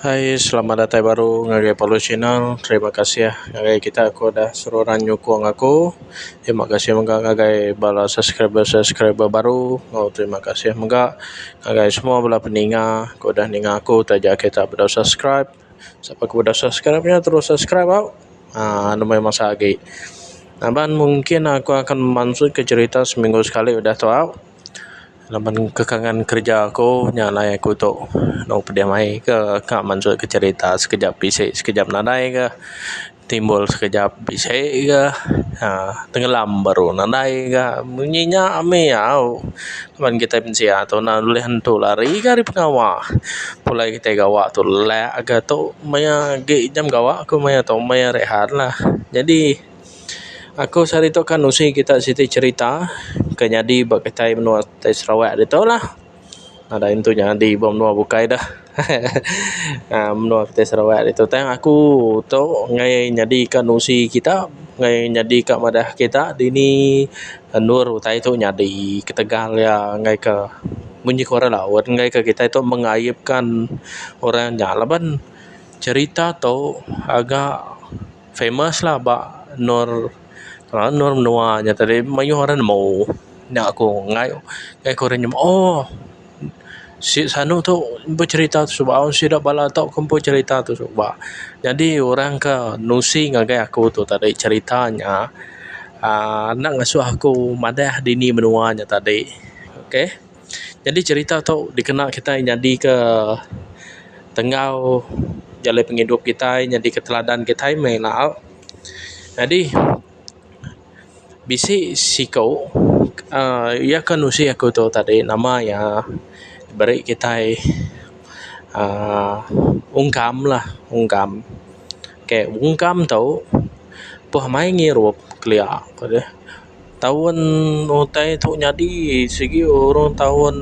Hai selamat datai baru ngagai Pelu channel terima kasih ngagai kita ku udah seruran nyukung aku terima kasih mega ngagai bala subscriber subscriber baru oh terima kasih mega ngagai semua bala peninga ku udah ninga aku taja kita bedau subscribe siapa ku udah subscribe nya terus subscribe au uhh nembiye masa agi laban mungkin aku akan mansut ke cherita seminggu sekali udah tu au. Laban kekangan kerja aku nya alai aku tu dau pedeh mai ke ka mansut ke cerita sekejap bisi sekejap nadai ka timbul sekejap bisi ka aaa tengelam baru nadai ka mung nyi nya mih au laban kitai mensia tu enda ulih nentu lari ka ari pengawa pulai kitai gawa tu lelak ka tu maya agi jam gawa ku maya tu maya rehatlah jadi. Aku sehari tu kan nusi kita siti cerita ke nyadi ba kitai menua ti Sarawak ditu lah. Nadai intu nyadi ba menua bukai dah. aaa menua ti Sarawak ditu tang aku tu meh nyadi ka nusi kita meh nyadi ka madah kita dini endur utai tu nyadi ketegal iya ngagai ka munyi ku orang laut ngagai ka kitai tu mengaipkan orang nya laban cerita tu agak famous-lah ba endur orang endur menua nya tadi mayuh orang nemu nya aku ngai ngai ku orang nemu oh si sanu tu becerita tu suba oh sida bala tu ke empu cerita tu suba. Nyadi orang ke nusi ngagai aku tu tadi cerita nya aaa enda ngasuh aku madah dini menua nya tadi. Okay. Jadi cerita tu dikena kitai nyadika tenggau jalai pengidup kitai nyadika teladan kitai meh laau. Jadi bisi siku uhh iya ka nusi aku tu tadi nama iya beri kitai uhh ungkam lah ungkam. Okay ungkam tu peh mai ngirup kelia. Taun utai tu nyadi sigi urung taun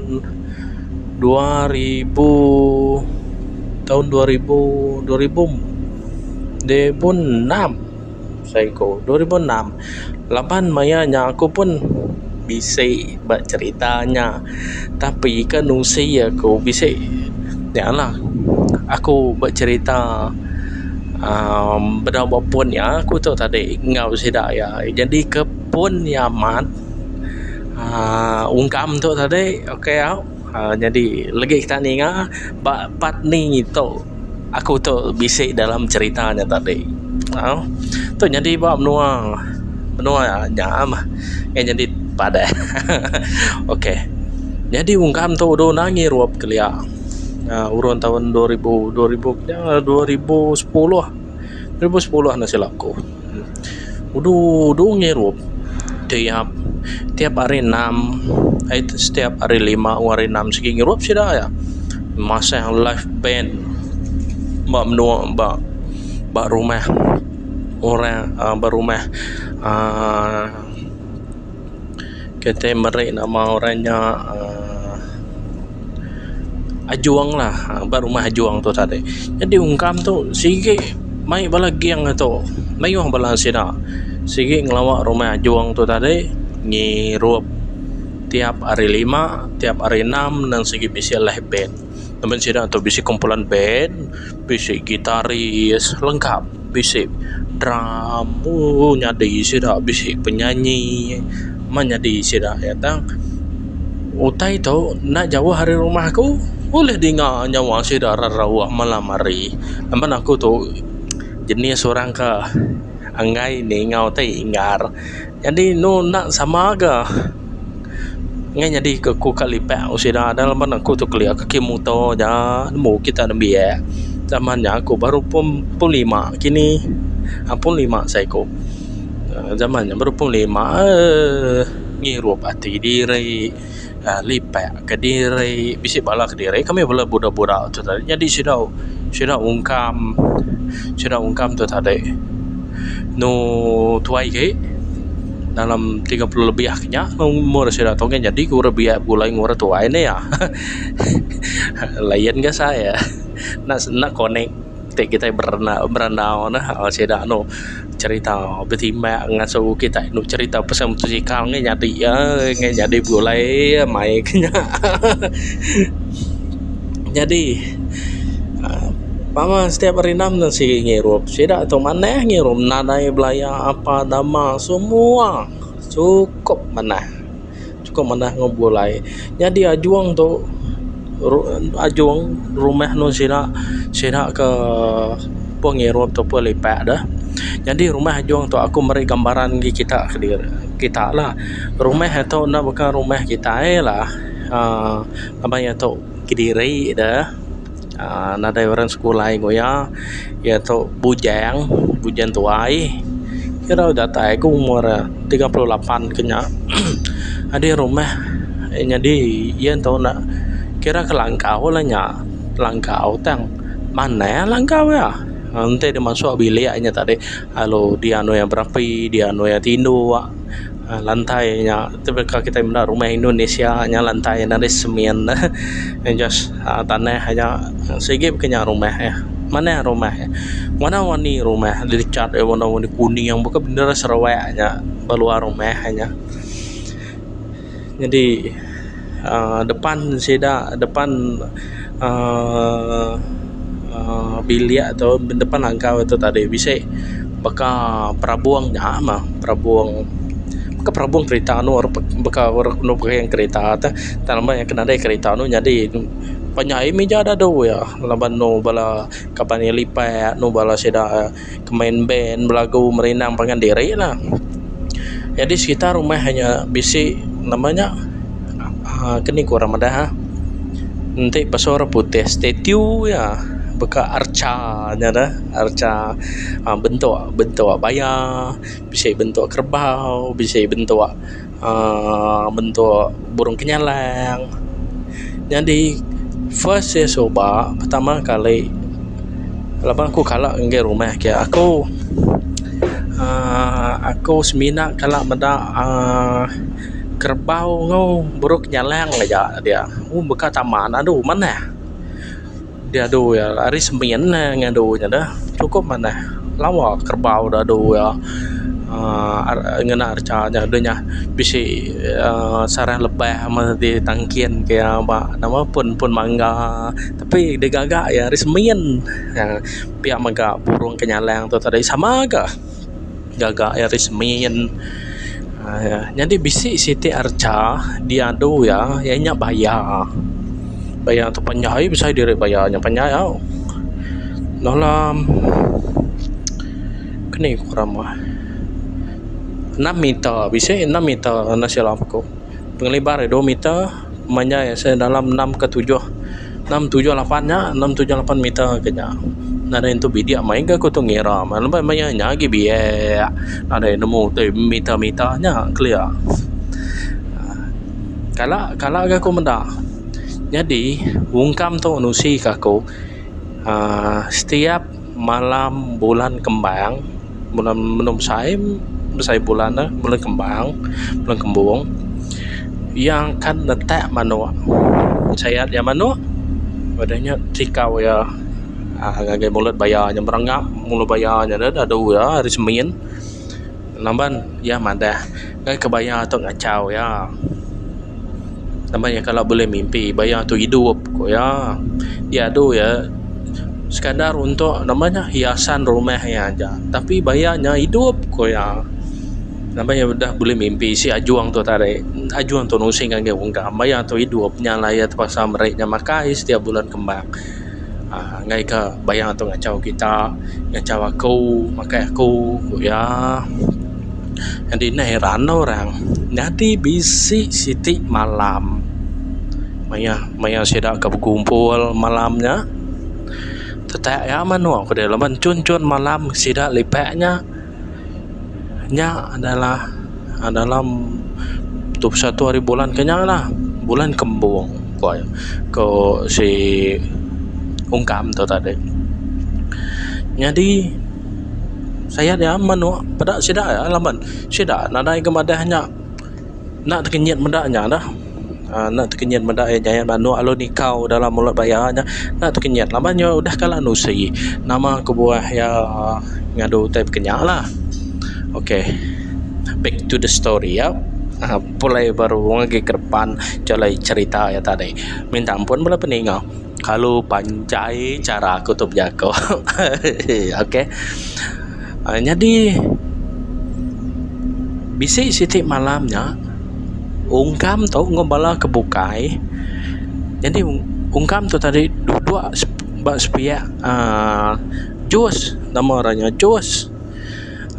dua ribu taun dua ribu dua ribu enam saiku dua ribu enam laban maya nya aku pun bisi. ba cerita nya tapi ke nusi aku bisi nya lah aku ba cerita amm bedau ba pun iya aku tu tadi enggau sida iya jadi ke pun iya amat aaa ungkam tu tadi ok au. Nyadi legi kita ninga ba part ni tu aku tu bisi dalam cerita nya tadi tu nyadi ba menua menua nya mah ngin nyadi padah ok nyadi ungkan tu udah angi ruwop kelia urun taun dua ribu dua ribu pia dua ribu sepuluh dua ribu sepuluh enda silap aku. Udu udu ngirup tiap tiap hari enam ai setiap hari lima enggau hari enam sigi ngirup sida iya masang live band ba menua ba ba rumah orang ba rumah aaa. Kitai meri nama orang nya aaa Ajong lah ba rumah Ajong tu tadi jadi ungkam tu sigi mai bala gang tu mayuh bala sida sigi ngelawa rumah Ajong tu tadi ngirup tiap hari lima tiap hari enam nang sigi bisi leh bank. Ngeban sida tu bisi kumpulan band, bisi gitaris lengkap, bisi drum uhh nyadi sida bisi penyanyi meh nyadi sida aja tang. Utai tu enda jauh ari rumah aku ulih dinga nyawa sida rarauh malam hari. Ngeban aku tu jenis orang ka enggai ninga utai ingar. Nyadi enu enda sama ga ngai nyadi ke aku ka lipak ku sida adalah laban aku tu kelia ke kimet muto aja nemu kita nembiak zaman nya aku baru pun pun lima kini uhh pun lima sai ku uhh zaman nya baru pun lima uhh ngirup ati diri. Lipak kediri bisi bala kediri kami bala buda-buda tu tadi nyadi sida sida ungkam sida ungkam tu tadi anu tuai agi dalam tiga puluh lebih agi nya umur sida tu nyadi ku rak biak begulai ku orang tuai ne iya layan ga sai enda connect ti kitai berandau ne sida anu. cherita betimbak ngasu kitai enda cherita pasal mutosikal ngai nyadi ai ngai nyadi begulai mai ke nya nyadi baka setiap hari enam ne sigi ngirup sida tu manah ngirup nadai belaya apa nama semua sukup manah. Chukup manah enggau bulai. Nyadi ajung tu ajung rumah enu sida sida ke pun ngirup tu pun lipak deh. Nyadi rumah ajung tu aku meri gambaran agi kita kediri kita la. Rumah tu enda baka rumah kitai la aaa ngaban iya tu kediri deh. aaa nadai orang sekolah ingu iya iya tu bujang bujang tuai kira datai ku umur iya tiga puluh lapan ke nya adeh rumah nyadi iya ento ne kira ke langkau la nya langkau tang manah iya langkau iya enti deh masuk bilik nya tadi lalu dian iya berapi dian iya tindu. uhh lantai nya tebeh ka kitai menda rumah Indonesia nya lantai nya ari semen neh uhh just uhh tanah aja sigi pun kinya rumah eh manah rumah eh warna-warni rumah deh dicat deh warna-warni kuning baka bendar Sarawak nya ba luar rumah nya jadi. aaa depan sida depan aaa aaa bilik tu depan langgar tu tadi bisi baka perabung nya mah perabung bukan perabung kereta anu baka orang anu perayang kereta tu tang lama ke nadai kereta anu nyadi panyai meja dadu iya laban anu bala kaban iya lipat anu bala sida. ke main band belagu merindang pangan diri lah jadi sekitar rumah inya bisi nama nya um keni ku orang madah enti pasu orang putih statue iya baka arca nya dah arca um bentuk bentuk baya bisi bentuk kerbau bisi bentuk. uhh bentuk burung kenyalang nyadi first iya suba pertama kali laban aku kala ngagai rumah ke aku uhh aku semina kala meda uhh kerbau enggau burung kenyalang aja dia baka taman adu manah. Diadu iya ari sembian meh ngadu nya deh cukup manah lawa kerbau da adu iya aaa ngena recha nya deh nya bisi aaa sarang lebah meh ti tangkin ke iya ba nama pun pun mangga tapi digaga iya ari sembian pia mega burung kenyalang tu tadi sama ga. gaga iya ris min aaa nyadi bisi siti archa diadu iya iya nya baya baya tu panjai aii besai diri baya nya panjai au dalam keni ku rama enam meter bisi enam meter silap aku pengelibas dua meter. menyai seh dalam enam ke tujuh enam tujuh lapan nya enam tujuh lapan meter ke nya nadai nentu bidik maiga ku tu ngira laban maya nya agi biek nadai nemu ti meter meter nya clear aaa kala kala ga ku meda nyadi ungkam tu nusi ka aku aaa setiap malam bulan kembang bulan menua besai besai bulan ne bulan kembang bulan kembung iya akan netak manok sayat iya manok udah nya tikau iya ngagai mulut baya nya merenga mulut baya nya deh dadu iya hari semin. Laban iya madah ngan kebaya tu ngachau iya. Laban iya kala bulih mimpi baya tu idup ku iya. Iya adu iya sekadar untuk nama nya hiasan rumah iya aja tapi baya nya idup ku iya. Laban iya udah bulih mimpi isi ajung tu tadi. Ajung tu nusing agi ungkam. Baya tu idup nya lah iya terpaksa meri nya makai setiap bulan kembang. uhh enggai ka bayar tu ngachau kita, ngachau aku, makai aku, ku iya. Nyadi ne heran orang, nyadi bisi siti malam mayuh mayuh sida ke bekumpul malam nya. Tetek iya menoa ku deh laban chun chun malam sida lipak nya. Nya adalah dalam dua puluh satu hari bulan ke nya lah bulan kembung ku aye ku si ungkam tu tadi nyadi saya nya menu peda sida laban sida nadai ke madah nya. Enda tekenyit meda nya lah enda tekenyit meda iya nyayat ba anu lalu nikau dalam mulut ba iya nya enda tekenyit laban iya udah kala nusi nama kebuah iya ngadu utai baka nya lah ok back to the story ya pulai baru ke depan jalai cherita iya tadi minta ampun bala peninga. Kalu panjai chara aku tu bejaku hehehe okey nyadi bisi siti malam nya ungkam tu enggau bala ke bukai nyadi ungkam tu tadi duduk ba sepiak uhh jus nama orang nya jus.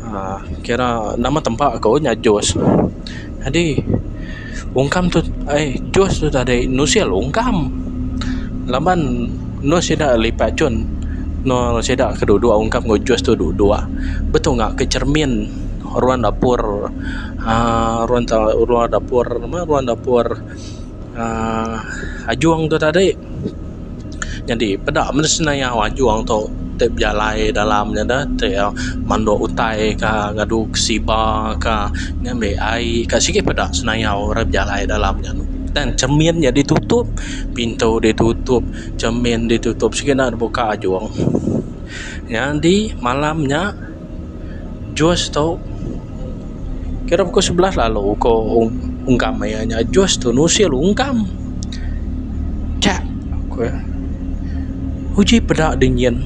uhh kira nama tempa aku nya Jos jadi ungkam tu ai Jos tu tadi nusil ungkam laban enu sida lipat cun enu sida ke duduk ungkam enggau Jos tu duduk betunga ke cermin ruang dapur uhh ruang dapur ruang dapur aaa ajung tu tadi nyadi peda meh senaia ajung tu tai bejalai dalam nya deh tai manduk utai ka ngadu kesiba ka ngambi ai ka sigi peda senaia orang bejalai dalam nya dan cermin nya ditutup pintu ditutup cermin ditutup sigi enda deh buka ajung nyadi malam nya Jus tu kira pukul sebelas lalu ko ungkam iya nya jus tu nusil ungkam chek ku iya uji peda di nyin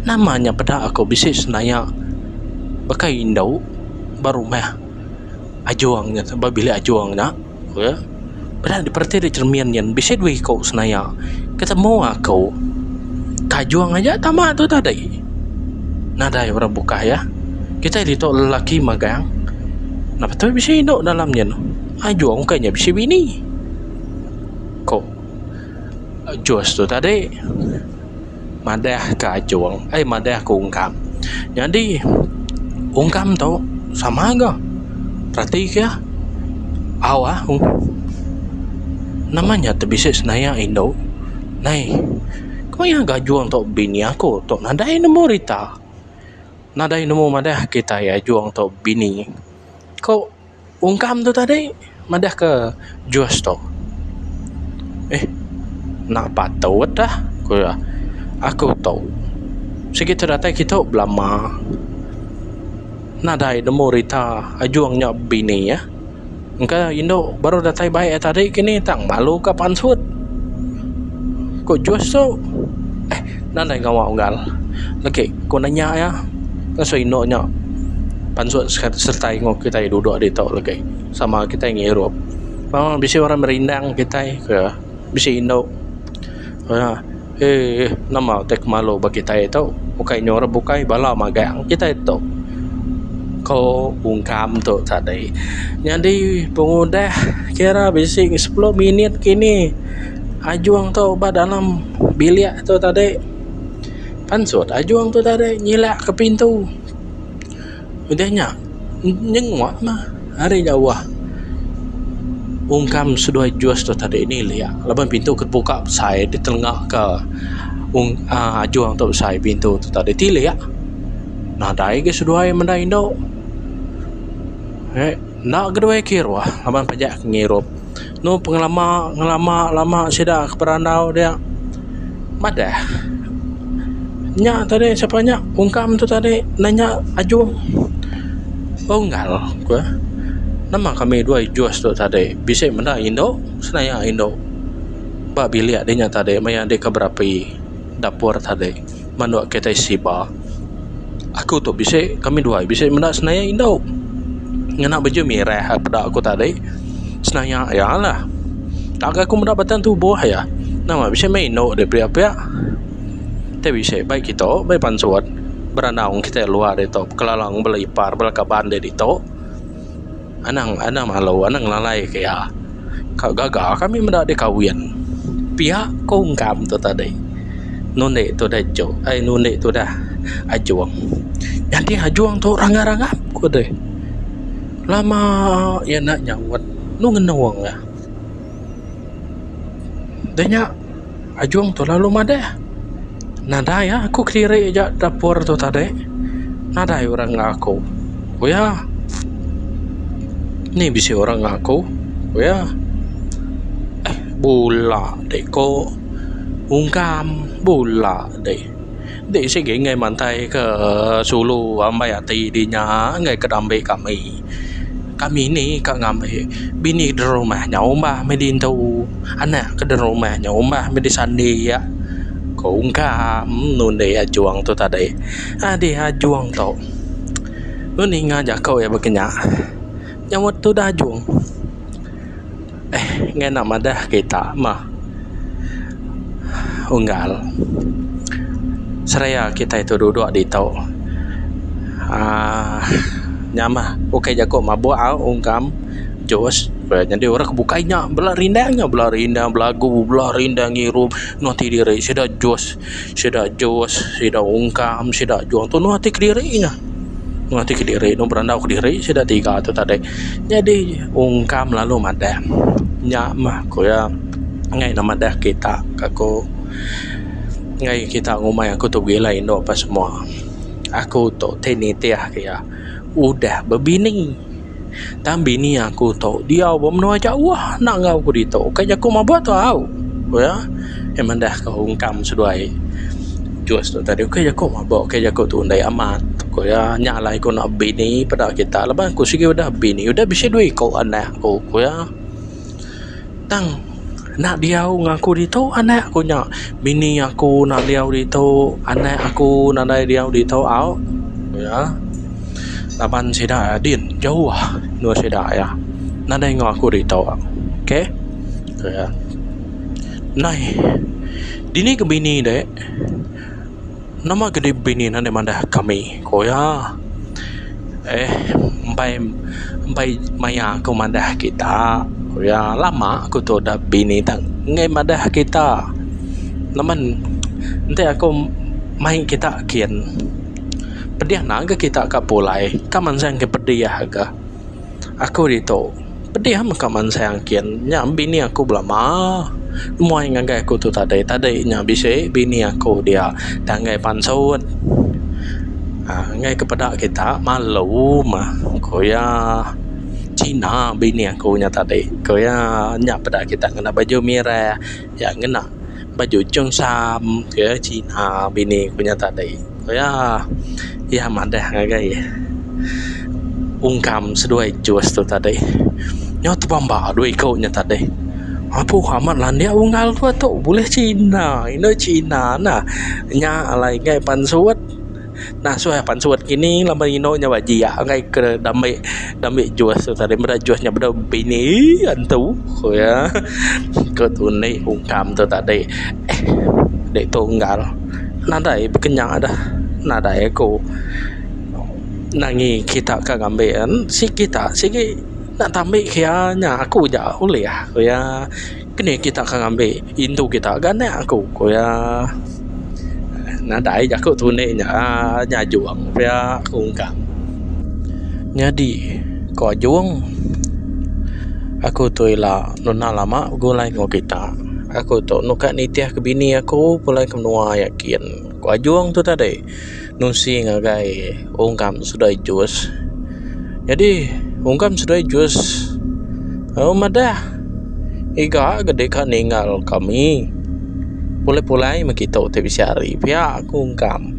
nama nya peda aku bisi senaya baka indu ba rumah ajong nya ba bilik ajong nya. Ku iya, peda dipereti dek cermin nyin bisi dua iko senaya ke temu aku. Kajung aja tama tu tadi. Nadai orang bukah iya. Kitai ditu lelaki magang. Napatu bisi indu dalam nyin. Ajung ukai nya bisi bini. Ku Jus tu tadi. madah ke ajung ai madah ke ungkam nyadi ungkam tu sama ga reti ke au ah nama nya tu bisi senaya indu nai ku iya ga ajung tu bini aku tu nadai nemu rita nadai nemu madah kitai ajung tu bini ku. Ungkam tu tadi madah ke jus tu. Eh enda patut dah ku iya. Aku tu sigi tu datai kitu belama nadai nemu rita ajung nya bini eh. Engka indu baru datai bai tadi kini tang malu ka pansut. Ku jus tu eh. Nadai ngawa unggal legi ku nanya iya ngasuh indu nya pansut sertai enggau kitai duduk ditu legi sama kitai ngirup memang bisi orang merindang kitai ke bisi indu aaa eeh nama utai ke malu ba kitai tu ukai nyurup ukai bala magang kitai tu ko ungkam tu tadi nyadi pengudah kira bisi sepuluh minit kini. ajung tu ba dalam bilik tu tadi pansut ajung tu tadi nyilak ke pintu udah nya nyenguk mah ari jauh ungkam seduai jus tu tadi nilik laban pintu ke buka besai ditenga ka ung aaa ajung tu besai pintu tu tadi tilik nadai agi seduai meda indu enda keduai kiruh laban pejah ngirup. enu pengelama ngelama lama sida ke berandau dia madah nya tadi sapa nya ungkam tu tadi enda nya ajung unggal ke nama kami dua jus tu tadi bisi menda indu senayak indu ba bilik dinya tadi maya dika berapi dapur tadi. mandu ke taxi ba aku tu bisi kami dua bisi menda senaia indu ngena baju mirah peda aku tadi senaia iya lah tang aku meda batang tubuh iya nama bisi meh indu dia pia-pia ti bisi bai kitu bai pansut berandaung kita luar ditu bekalang bala ipar bala kaban dia ditu. Anang anang malu anang ngelalai ke iya. Ka gaga kami meda dikawin. Pia ku ungkam tu tadi. Nu indi tu dah ejok ai nu indi tu dah ajong. Nyadi ajong tu rangap rangap ku deh. Lama iya enda nyaut. Nu ngenung iya. Deh nya. Ajung tu lalu madah. Nadai ah aku kediri aja dapur tu tadi. Nadai orang enggau aku. Oyah. Ni bisi orang enggau aku. Oyah. Eh bula deh ko. Ungkam bula deh. Enti sigi enggai mantaika sulu ambai ati dih nya enggai ka dambe kami. Kami ni ka ngambi bini da rumah nya umbah meh ditu, anak ke da rumah nya umbah meh disandi iya. Ku ungkam nundi Ajong tu tadi. Adeh Ajong tu nuninga jaku iya baka nya nyauka tudah Ajong. Eh ngena madah kita meh unggal seraya kitai tu dudok ditu aaa nya mah ukai jaku mabuk au ungkam jus nyadi orang ke bukai nya bela rindang nya bela rindang belagu bela rindang ngirup eno ti diri sida jus. Sida jus, sida ungkam, sida juang tu nuh ati kediri nya. Nuh ati kediri, nuh berandau kediri sida tiga tu tadi. Nyadi ungkam lalu madah. Nya mah ku iya ngaih ne madah kita ka ku. Ngaih kita ngumbai aku tu begila indu apa semua. Aku tu ti nitih ke iya udah bebini. Tang bini aku tu diau ba menua jauh enda enggau aku ditu. Ukai jaku maba tu au. Ku iya. Iya madah ka ungkam seduai Jus tu tadi. Ukai jaku maba, ukai jaku tu Ondai Amat, ku iya. Nya alai ku enda bini peda kita. Laban aku sigi udah bini, udah bisi dua iku anak aku, ku iya. Tang enda diau ngan aku ditu anak aku nya. Bini aku enda diau ditu, anak aku nadai diau ditu au ku iya. Laban sida din jauh endur sida iya. Nadai enggau aku ditu. Ok ku iya. Nai dini ke bini dek. Nama gedi bini ne enda mandah kami, ku iya. Eh mbai mbai maya ku mandah kita, ku iya. Lama ku tu udah bini tak ngei madah kita. Laban enti aku mai kita kin, pedih agi kita ka pulai. Ka mansang ke pedih ka. Aku ditu. Pedih amat ka mansai angkin nya bini aku belama. Nemuai ngagai aku tu tadi tadi nya bisi bini aku dia da enggai pansut aaa enggai ke peda kita malu mah ku iya Cina bini aku nya tadi ku iya nya peda kita ngena baju mireh. iya ngena baju cheongsam ke cina bini ku nya tadi ku iya iya madah ngagai ungkam seduai jus tu tadi nyo tebamba duo iko nya tadi apuh amat landik unggal tu tok buleh cina ino cina nah nya alai nggai pan suwot. Nasuh iya pansut ngini laban inu nya ba jiak angai ke da ambi da ambi jus tu tadi meda jus nya bedau bini ii antu ku iya ku tu indi ungkam tu tadi eh ditunggal nadai bekenya dah nadai aku nangi kita ka ngambi en si kita sigi enda ta ambi ke iya nya aku ja ulih ku iya. Keni kita ke ngambi indu kita ga anak aku ku iya. Nadai jaku tu indi nya nya ajung pia ku ungkang. Nyadi ku ajung aku tu ila nunda lama begulai enggau kita. Aku tu enda nitih ke bini aku pulai ke menua iya kin ku ajung tu tadi. nusi ngagai ungkam seduai jus nyadi ungkam seduai jus aa madah iga gedi ka ninggal kami pulai pulai meh kitu ti bisi hari pia ku ungkam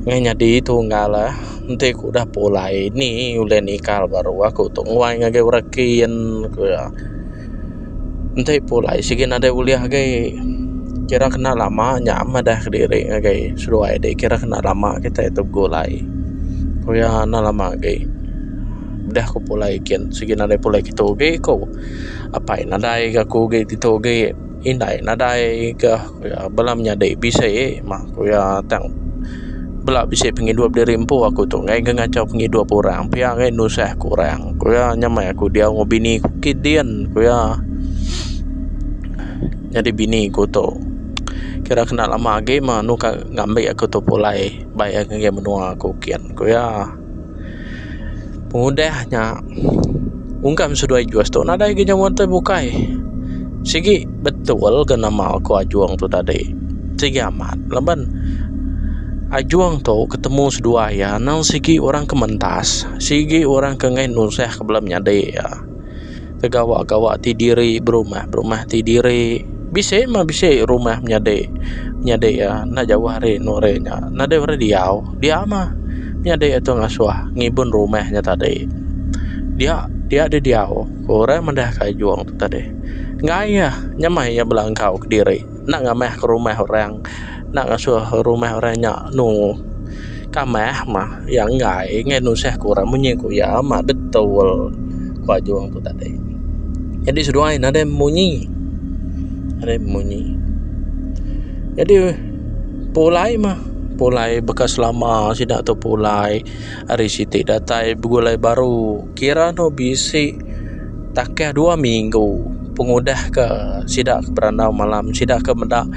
meh nyadi tunggal le enti ku udah pulai ni ulih ninggal baru aku tu nguai ngagai orang kin ku iya. Enti pulai sigi nadai ulih agei kira kena lama nya madah diri ngagai seduai deh kira kena lama kitai tu begulai ku iya enda lama agei udah ku pulai kin sigi nadai pulai kitu agei ku apai nadai ga ku agei ditu agei indai nadai ga. Ku iya, Bala menyadi bisi mah ku iya tang bela bisi pengidup diri empu aku tu enggai ke ngachau pengidup orang pia enggai nusah ke orang ku iya nyamai aku diau enggau bini ku kit din ku iya nyadi bini ku tu kira kena lama agi mah anu ka ngambi aku tu pulai bai agi menua aku kin ku iya. Pengudah nya ungkam seduai jus tu nadai ga nyawa entoi bukai. Sigi betul ga nama ko Ajong tu tadi. Sigi amat laban Ajong tu ketemu seduai iya nang sigi orang ke mentas, sigi orang ke enggai nusah ke bala menyadi iya. ke gawa-gawa ti diri berumah-berumah ti diri bisi mah bisi rumah menyadi menyadi iya enda jauh ari anu ari nya enda deh ari diau dia mah nyadi atu ngasuh ngibun rumah nya tadi dia dia di diau orang mendeh kayung tadi ngai iya nyamai iya bela enggau kediri. Enda ngamahka rumah orang. Enda ngasuh rumah orang nya anu kamah mah. Iya enggai nggai nusahka orang munyi ku iya mah betul ku Ajong tu tadi. Jadi seduai ne deh munyi deh munyi. Jadi pulai mah pulai baka selama sida tu pulai. Ari siti datai begulai baru kira anu bisi takah dua minggu pengudah ke sida ke berandau malam sida ke meda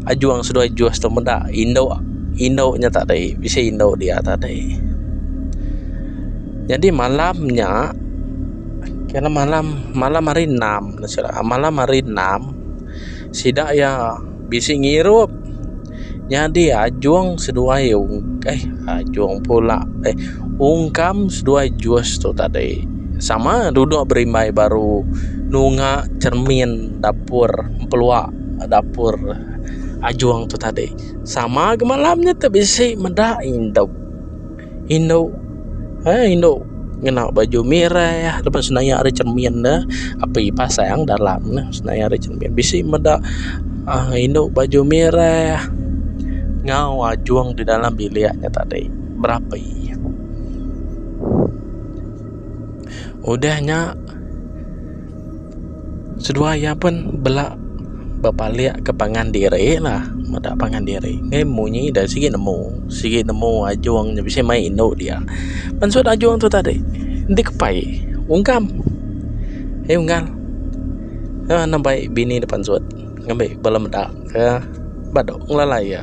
ajung seduai jus tu meda indu indu nya tadi bisi indu dia tadi nyadi malam nya kena malam malam hari enam malam hari enam sida iya. Bisi ngirup. Nyadi ajung seduai eh ajung pula eh ungkam seduai jus tu tadi. Sama duduk berimbai baru nunga cermin dapur empelua dapur ajung tu tadi. Sama ga malam nya tu bisi meda indu. indu eh indu ngena baju mireh leban senayak ari cermin ne api pasang dalam ne senayak ari cermin bisi meda uhh indu baju mireh enggau ajung di dalam bilik nya tadi berapi udah nya. Seduai iya pun bela bepalik ke pangan diri lah meda pangan diri ngin munyi da sigi nemu sigi nemu ajung nya bisi mai indu dia mansut ajung tu tadi enti kepai ungkam aye unggal ena bai bini da pansut ngambi bala meda ka ba dog ngelalai iya.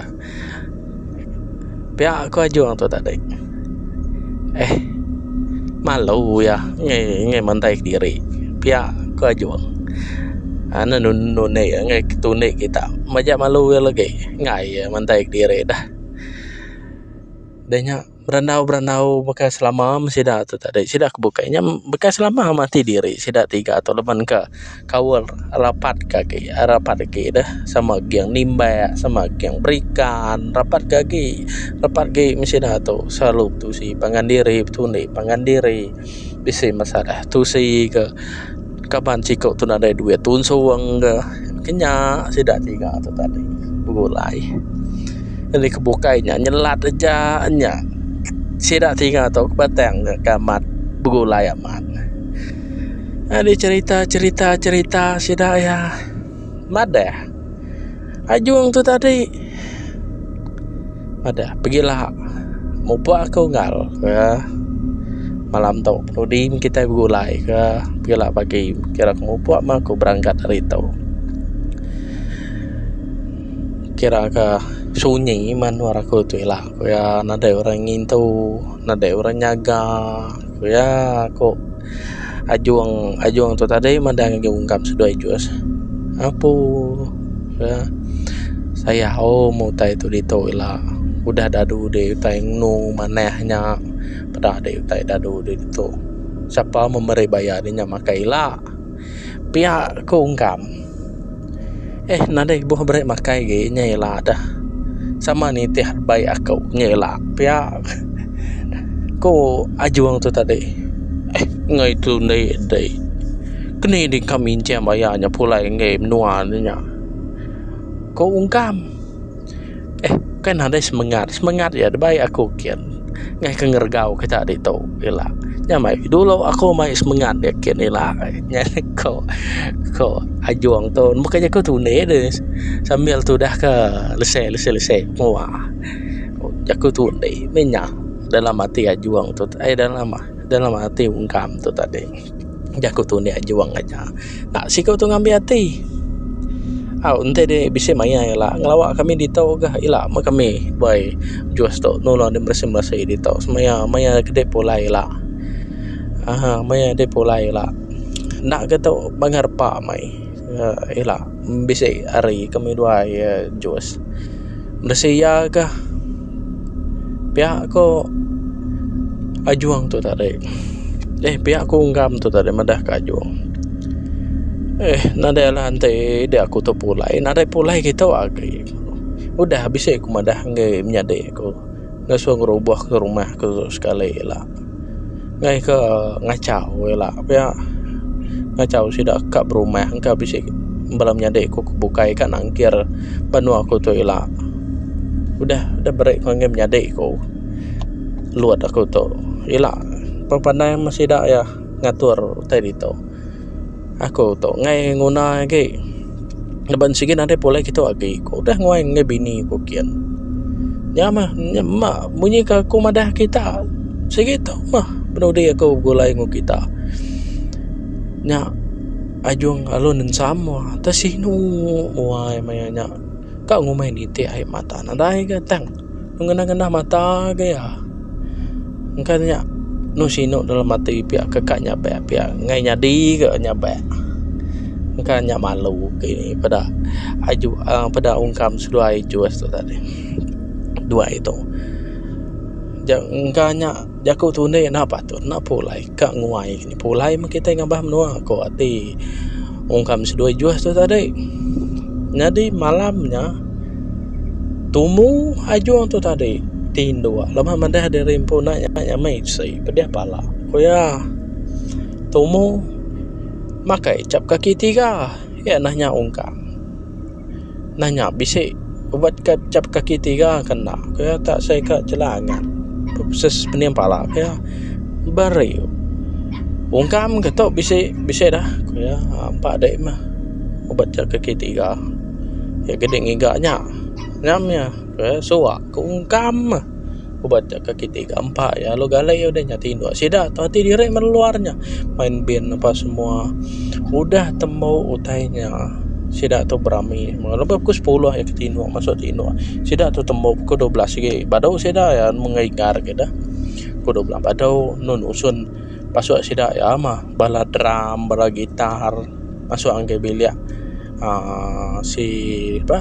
Piak aku ajung tu tadi. Eh. Malu uya ngai ngai mandai kediri. Piak aku ajung. Anu nuni ngai ketuni kita. Maja malu uya lagi. Ngai mandai kediri dah. Deh nya. berandau-berandau baka selama meh sida tu tadi sida ke bukai nya baka selama mati diri sida tiga tu laban ka kaul rapat ka agi rapat agi deh sama geng nimbek sama geng berikan rapat ka agi rapat agi meh sida tu selalu betusi pangan diri betundi pangan diri bisi masalah tusi ka. Kaban siku tu nadai duit tun suweng ke kinya sida tiga tu tadi begulai jadi ke bukai nya nyelat aja nya sida tiga tu batang ne ke amat begulai amat jadi cherita cherita cherita sida iya. Madah. Ajung tu tadi. Madah. Pegila. Mupuk aku ngal. Kah. Malam tu. Penudi meh kitai begulai. Kah. Pegila pagi. Kira aku mupuk meh aku berangkat hari tu. Kira ke sunyi meh nuan aku tu ila. Nadai orang ngintu. Nadai orang nyaga. Ku iya ku. Ajung ajung tu tadi meda ngagai ungkap seduai jus apu ka sayau aum meh utai tu ditu ila udah dadu deh utai engu manah nya peda deh utai dadu deh ditu sapa meh meri bayar inya makai ila. Pia ku ungkam. Eh nadai ibuh beri makai agi nya ila deh. Sama nitih bai aku nya ila pia ku ajung tu tadi. Eh enggai tu enda deh. Keni deh engka minjam aya nya pulai enggai menua nya. Ku ungkam. Eh, bukai nadai semengat. Semengat iya da bai aku kin. Ngaih ke ngeregau kita ditu ila. Nya mai dulu aku mai semengat dia kin ila. Nya ko ko Ajong tu bukai jaku tunik ne sambil tudah ke lese lese lese mua. Jaku tunik meh nya dalam ati Ajong tu eh dalam dalam ati Ungkam tu tadi. Jaku tu enda juong aja. Enda siku tu ngambi ati. Au enti ne bisi maya ila ngelawa kami ditu ga ila meh kami beai jus tu nulung dep beresi mesi ditu semaya maya ke dep pulai ila aaa maya dep pulai ila. Enda ga tu bangga repa meh ai. Uhh ila bisi hari kami dua iya jus bisi iya ga pia ku ajung tu tadi eh pia ku ungam tu tadi madah ka ajung eh nadai lah enti ida aku tu pulai nadai pulai kitu agi udah bisi ku madah nyadi ku. ngasuh ngerobohka rumah ke sekali ila ngai ke ngachau ila pia ngachau sida ka berumah engka bisi bala menyadi ku ke bukai ka nangkir banua ku tu ila udah udah bere panggil menyadi ku lod aku tu ila pemandai me sida iya ngatur utai ditu. Aku tu ngai nguna agi laban sigi nadai pulai kitu agi ku udah nguai ngai bini ku kian nya mah ma munyi ka ku madah kita sigi tu mah penudi aku begulai ngu kita nya ajung alun ensam mah ta sinu muai maya nya ka ngumbai nitih ai mata nadai ga tang. Ngenah-ngenah mata agai iya. Engka nya anu sinu dalam ati piak ke ka nyabek piak ngai nyadi ke nyabek. Engka nya malu ke peda aju aaa peda ungkam seduai jus tu tadi duai tu. Nya engka nya. Jaku tu indi enda patut enda pulai ka nguai pulai meh kitai ngambah menua ko ati wong kami seduai juh tu tadi nyadi malam nya tumu ajong tu tadi ti ndua laban laban madah diri empu enda nyamai nyamai bisi pedeh pala ku iya tumu makai chap kaki tiga iya neh nya ungkang. nanya bisi ubat ka chap kaki tiga ka enda ku iya tak sai ka jelan agat pepses pening pala ku iya beri ungkam ka tu bisi bisi dah ku iya empa dei meh ubat chap kaki tiga iya gedi ngiga nya nyam iya suwa ka ungkam meh. Ku ba te kaki tiga empa iya lalu galai iya udah nyati indu sida tu ati diri meluar nya main bin apa semua udah tembu utai nya sida tu berami lebuh pukul sepuluh iya ke tinu masu tinu sida tu tembu pukul dua belas agi badu sida iya mengeri gar ke deh pukul dua belas badu enu nusun pasu sida iya mah bala drum bala guitar masu enggai bilik. aaa si pa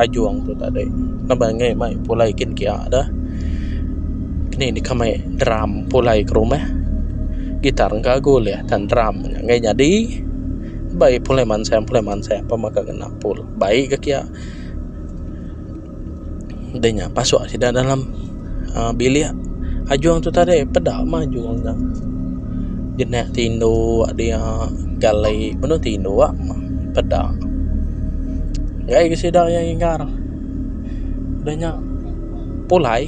Ajong tu tadi ngaban ngai mai pulai kin kia da kini deka mai drum pulai ke rumah gitar engka agu ulih tan drum nya ngai nyadi bai pulai mansang pulai mansang pemaka ngena pul bai ke kia. Deh nya pasuk sida dalam uhh bilik ajung tu tadi peda mah ajung nya jenak ti indu dia galai penu ti indu mah peda gai ga sida iya inggar deh nya pulai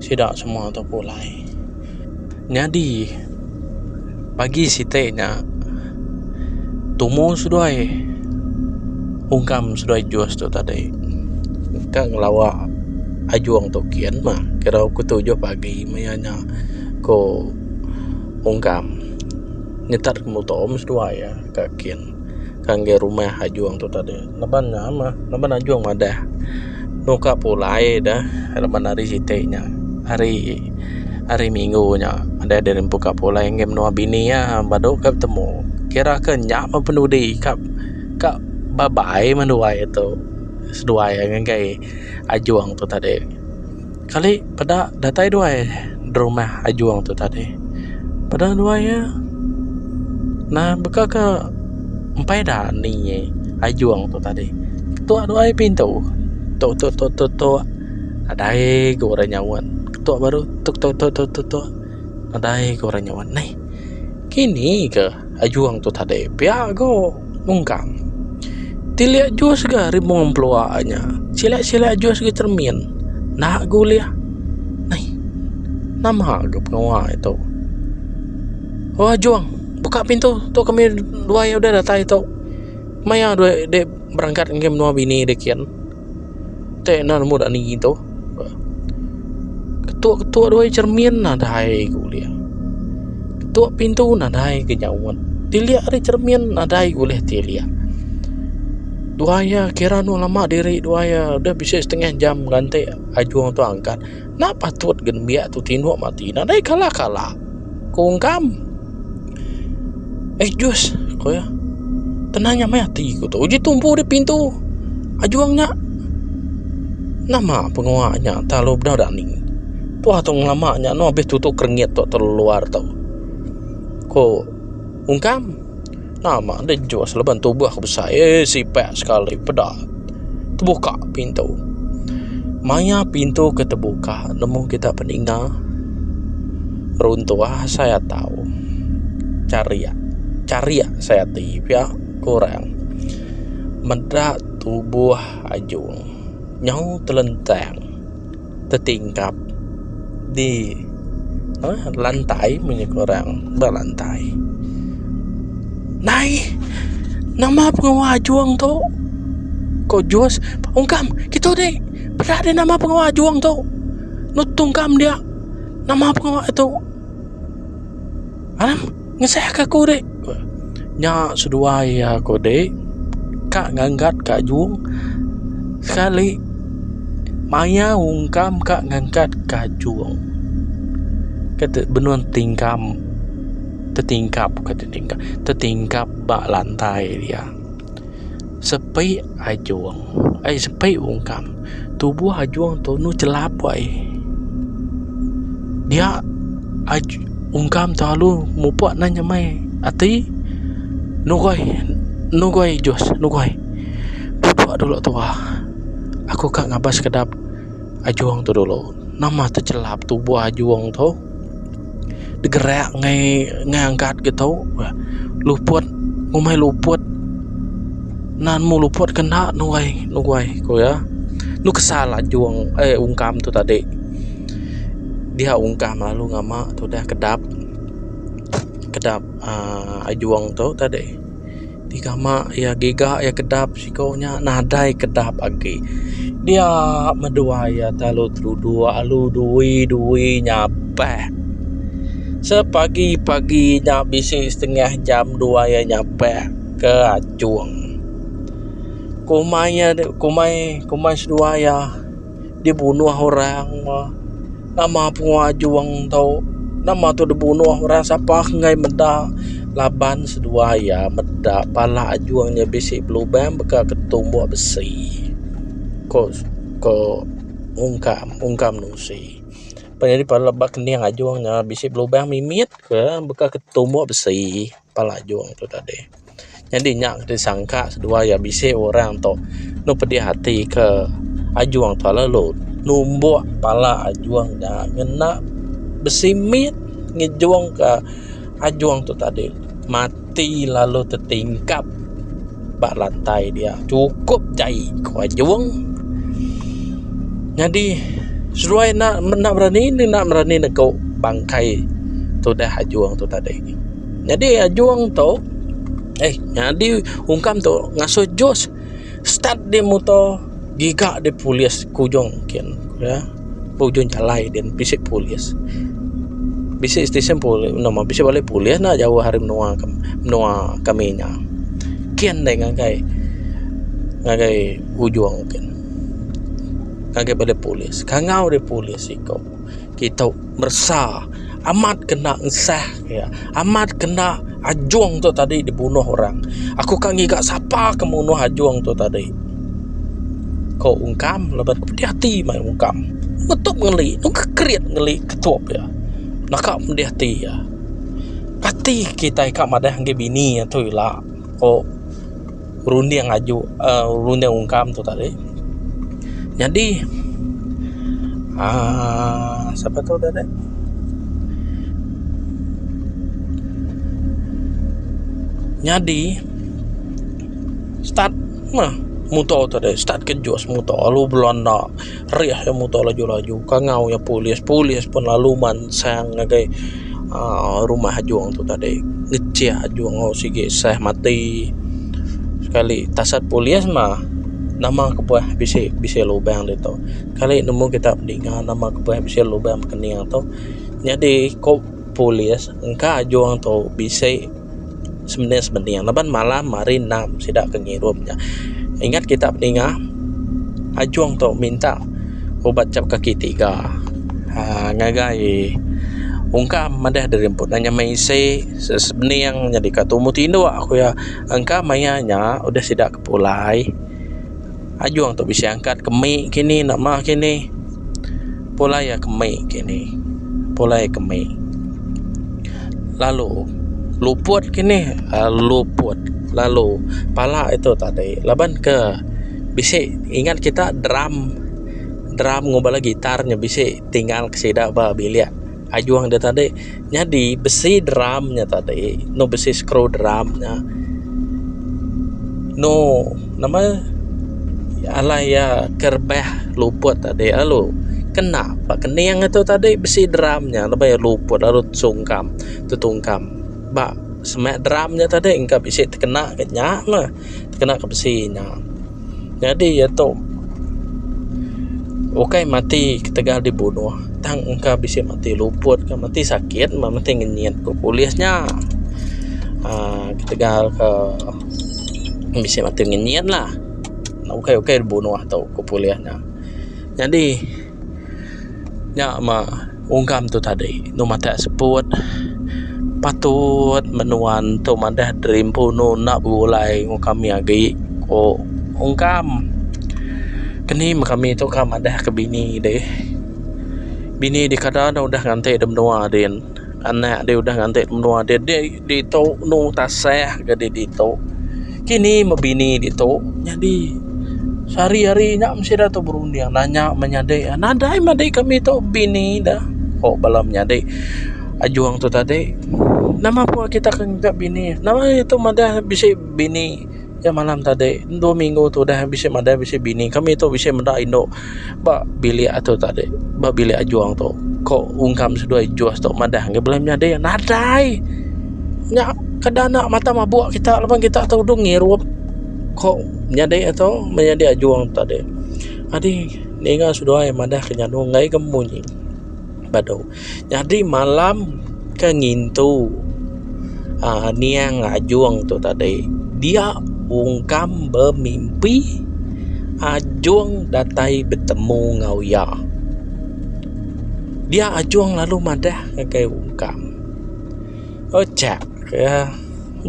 sida semua tu pulai. Nyadi, pagi siti nya, tumu seduai ungkam seduai jus tu tadi engka ngelawa ajung tu kian mah kira pukul tujuh pagi meh iya nya ku ungkam nyetat muto meh seduai ka kian. ke enggai rumah ajung tu tadi laban nya meh laban ajung madah enu ka pulai deh laban hari siti nya hari hari minggu nya deh deh empu ka pulai enggai menua bini iya badu ka betemu kira ke nya meh penudi ka ka bye bye menua itu seduai enggai ajung tu tadi. Kali peda datai duai da rumah Ajong tu tadi. Peda duai iya nah baka ke empai da ni ye Ajong tu tadi. Ketua duai pintu tok tok tok tok tok nadai ku orang nyaut. Ketua baru tok tok tok tok tok nadai ku orang nyaut. Neh. Kini ga ajung tu tadi pia go ungkam ti leh jus ga rimung pelua nya sila-sila jus ga cermin enda ga ulih ai nama ga pengawa tu o ajung buka pintu tu kami dua ayu deh datai tu maya deh berangkat ngagai menua bini deh kin. Tek nan muda ni tu. Ketuk-ketuk doi cermin nadai ku ulih. Ketuk pintu nadai ke nyaut. Tilik ari cermin nadai ku ulih tilik. Dua iya kira anu lama diri dua iya deh bisi setengah jam nganti ajung tu angkat. Enda patut ke nembiak tu tinduk mati. Nadai kalah-kalah, ku Ungkam. Eh, Jus, ku iya. Tenang nya meh ati ku tu. Uji tumpu di pintu. Ajung nya. Nama pengua nya telalu bedau dani. Tuah tu ngelama nya anu habis tutup keringit tu telalu luar tu. Ku Ungkam. Nama enda jus leban tubuh ke besai eh sipak sekali peda tebuka pintu. Maya pintu ke tebuka nemu kita peninga runtuh asai atau chariak chariak asai ati pia ke orang meda tubuh ajung nyau telentang. tetingkap di eh, lantai punya korang berlantai nai nama pengawa ajung tu ko jus ungkam kita ni peda di nama pengawa ajung tu nutung kam dia nama pengawa tu ha Ngesahka aku dek ku iya. Nya seduai iya ku dek ka ngangkat ka jung sekali maya ungkam ka ngangkat ka jung ke benung tingkam tetingkap tetingkap ba lantai dia. Sepi ajung ai sepi ungkam tubuh ajung tunu chelap ai dia ungkam selalu mupuk nan nyemai ati nugoi nugoi jus nugoi pupuk dulu tuah aku ka ngabas kedap ajung tu dulu nama tu chelap tubuh ajung tu. degerak ngai ngai angkat ga tu bah luput ngumbai luput nan mbuh luput ke enda nuai nuai ku iya enu kesal anjung ai ungkam tu tadi dia ungkam lalu ngama tu dah kedap kedap aaa anjung tu tadi. ti kama iya giga iya kedap siko nya nadai kedap agi dia meduai iya telalu truduk alu dui dui nya beh sepagi pagi nya bisi setengah jam dua iya nya beh ke achung komai iya komai komai seduai iya. dibunuh orang mah nama pengau ajong tu nama tu dibunuh orang sapa enggai meda laban seduai iya meda pala ajong nya bisi belubang baka ke tumbok besi ko ko ungkam ungkam nusi panyadi pala ba kening ajong nya bisi belubang mimit ke baka ke tumbok besi. Palajung tu tadi. Nyadi nya ke disangka seduai iya bisi orang tu enu pedih ati ke ajung tu lalu numbuk pala ajung nya ngena besi mit ngejungka ajung tu tadi mati lalu tetingkap. ba lantai dia chukup jai ko ajung nyadi seduai enda enda berani enda berani negu bangkai tudah ajung tu tadi nyadi ajung tu eh nyadi ungkam tu ngasuh jus start di muto. Giga deh polis ke ujung ken neh ke ujung jalai din bisi polis bisi station polis no mah bisi bala polis nya jauh ari menua menua kami nya ken deh ngagai ngagai ujung ken ngagai bala polis kangau deh polis iko. kita meresa amat kena ensah iya amat kena ajong tu tadi dibunuh orang aku ka ngiga sapa ke mbunuh ajong tu tadi ko ungkam laban ku pedih ati meh ungkam betup ngeli ku kerit ngeli ketup iya naka pedih ati iya ati kitai ka madah ngagai bini iya tu ila ko berunding aju uh, berunding ungkam tu tadi jadi uh, siapa tu tadi jadi start mah motor tu tadi start kejus motor lalu belanda rih iya muto laju laju kangau iya polis polis pun lalu mansang ngagai aaa rumah ajong tu tadi ngechek ajong tu sigi sah mati sekali tasat polis mah nama kebuah bisi bisi lubang deh tu kali nemu kita ninga nama kebuah bisi lubang tu nyadi ko polis engka ajong tu bisi. Semeniang semeniang laban malam hari endang sida ke ngirum nya. Ingat kita pedinga ajung tu minta ubat chap kaki tiga aaa ngagai ungkam madah diri empu nya meh isi semeniang nyadi ka tumu tindu aku iya. Engka maya nya udah sida ke pulai. Ajung tu bisi angkat ke mik kini enda mah kini. Pulai iya ke mik kini. Pulai iya ke mik. Lalu luput kini uhh luput lalu pala iya tu tadi laban ke bisi ingat kita drum drum ngubah lagu gitar nya bisi tinggal ke sida ba bilik. Hajung da tadi nyadi bisi drum nya tadi anu bisi skru drum nya anu nama alai iya ke rebah luput tadi lalu kena ba kening atu tadi bisi drum nya laban iya luput lalu sungkam tetungkam ba semak drum nya tadi engka bisi tekena ka nya mah. tekena ke besi nya nyadi iya tu ukai mati ketegal dibunuh tang engka bisi mati luput ka mati sakit mba mati ngenyit ku polis nya aaa ketegal ke bisi mati ngenyit lah ukai ukai dibunuh tu ku polis nya nyadi. Nya mah ungkam tu tadi deh matek seput patut meh nuan tu madah gerimpunu enda begulai ngen kami agi ko ungkam keni meh kami tu ka madah ke bini deh bini deh kada deh udah nganti deh menua din anak deh udah nganti menua din. Ditu enu tasah ga di ditu. Kini meh bini ditu nyadi sehari-hari nya meh sida tu berunding nanya menyadi nadai meh adi kami tu bini da ko bala menyadi Ajong tu tadi nama pun kitak ke ngaga bini nama iya tu madah bisi bini nya malam tadi dua minggu tu udah bisi madah bisi bini kami tu bisi meda indu. Ba bilik atu tadi, ba bilik Ajong tu, ko ungkam seduai Jos tu madah ngi bala menyadi iya, Nadai! Nya keda enda mata mabuk kita laban kita tu duduk ngirup, ko menyadi iya tu, menyadi Ajong tu tadi. Adi ninga seduai madahka nyandung ngagai ke munyi badu. Nyadi malam ke ngintu aa niang Ajong tu tadi dia ungkam bemimpi Ajong datai betemu enggau iya. Dia Ajong lalu madah ngagai ungkam. Ucha ke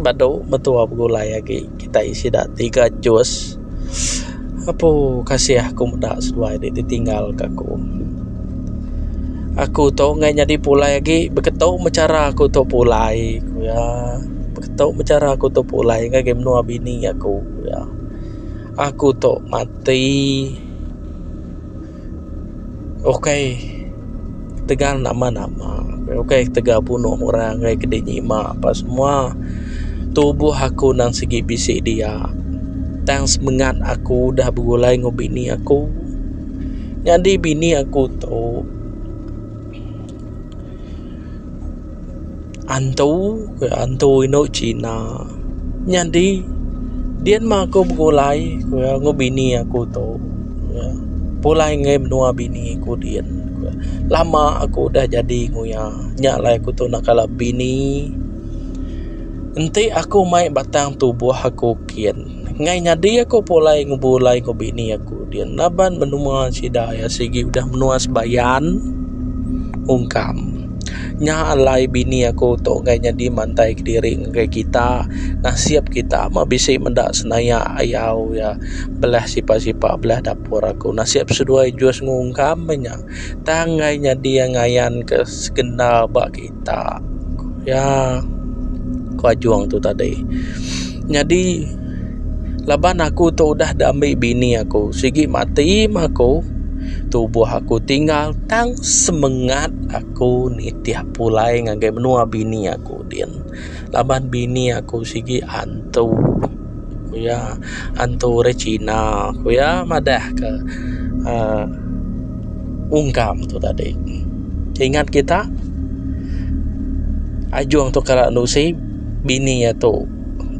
badu mentua begulai agi kitai sida tiga jus apu kasih aku meda seduai ti ditinggal ka aku. Aku tu ngan nyadi pulai agi beketu meh chara aku tu pulai ku iya beketu meh chara aku tu pulai ngagai menua bini aku ku iya. Aku tu mati. Ukai tegal nama nama ukai tegal punoh orang ngagai kidi nyima pa semua tubuh aku nang sigi bisi dia tang semengat aku udah begulai enggau bini aku nyadi bini aku tu. Antu ku iya antu indu Cina nyadi dian mah aku begulai ku iya enggau bini aku tu pulai ngei menua bini aku dian lama aku udah jadi enggau iya nya alai aku tu nak kala bini enti aku mai batang tubuh aku kian. Enggai nyadi aku pulai ngebulai enggau bini aku dian laban menua sida iya sigi udah menua sebayan ungkam. Nya alai bini aku tu enggai nyadi mantai kediri ngagai kita. Nasib kita meh bisi meda senaya ayau iya belah sipa-sipa belah dapur aku. Nasib seduai Jus enggau ungkam meh nya. Tang ngai nyadi iya ngayan ke sekenda ba kita ya ko ajong tu tadi nyadi laban aku tu udah diambi bini aku sigi mati meh aku tubuh aku tinggal tang semengat aku nitih pulai ngagai menua bini aku din. Laban bini aku sigi antu ku iya antu orang cina ku iya madah ka uhh ungkam tu tadi ingat kita ajung tu kara anu usi bini iya tu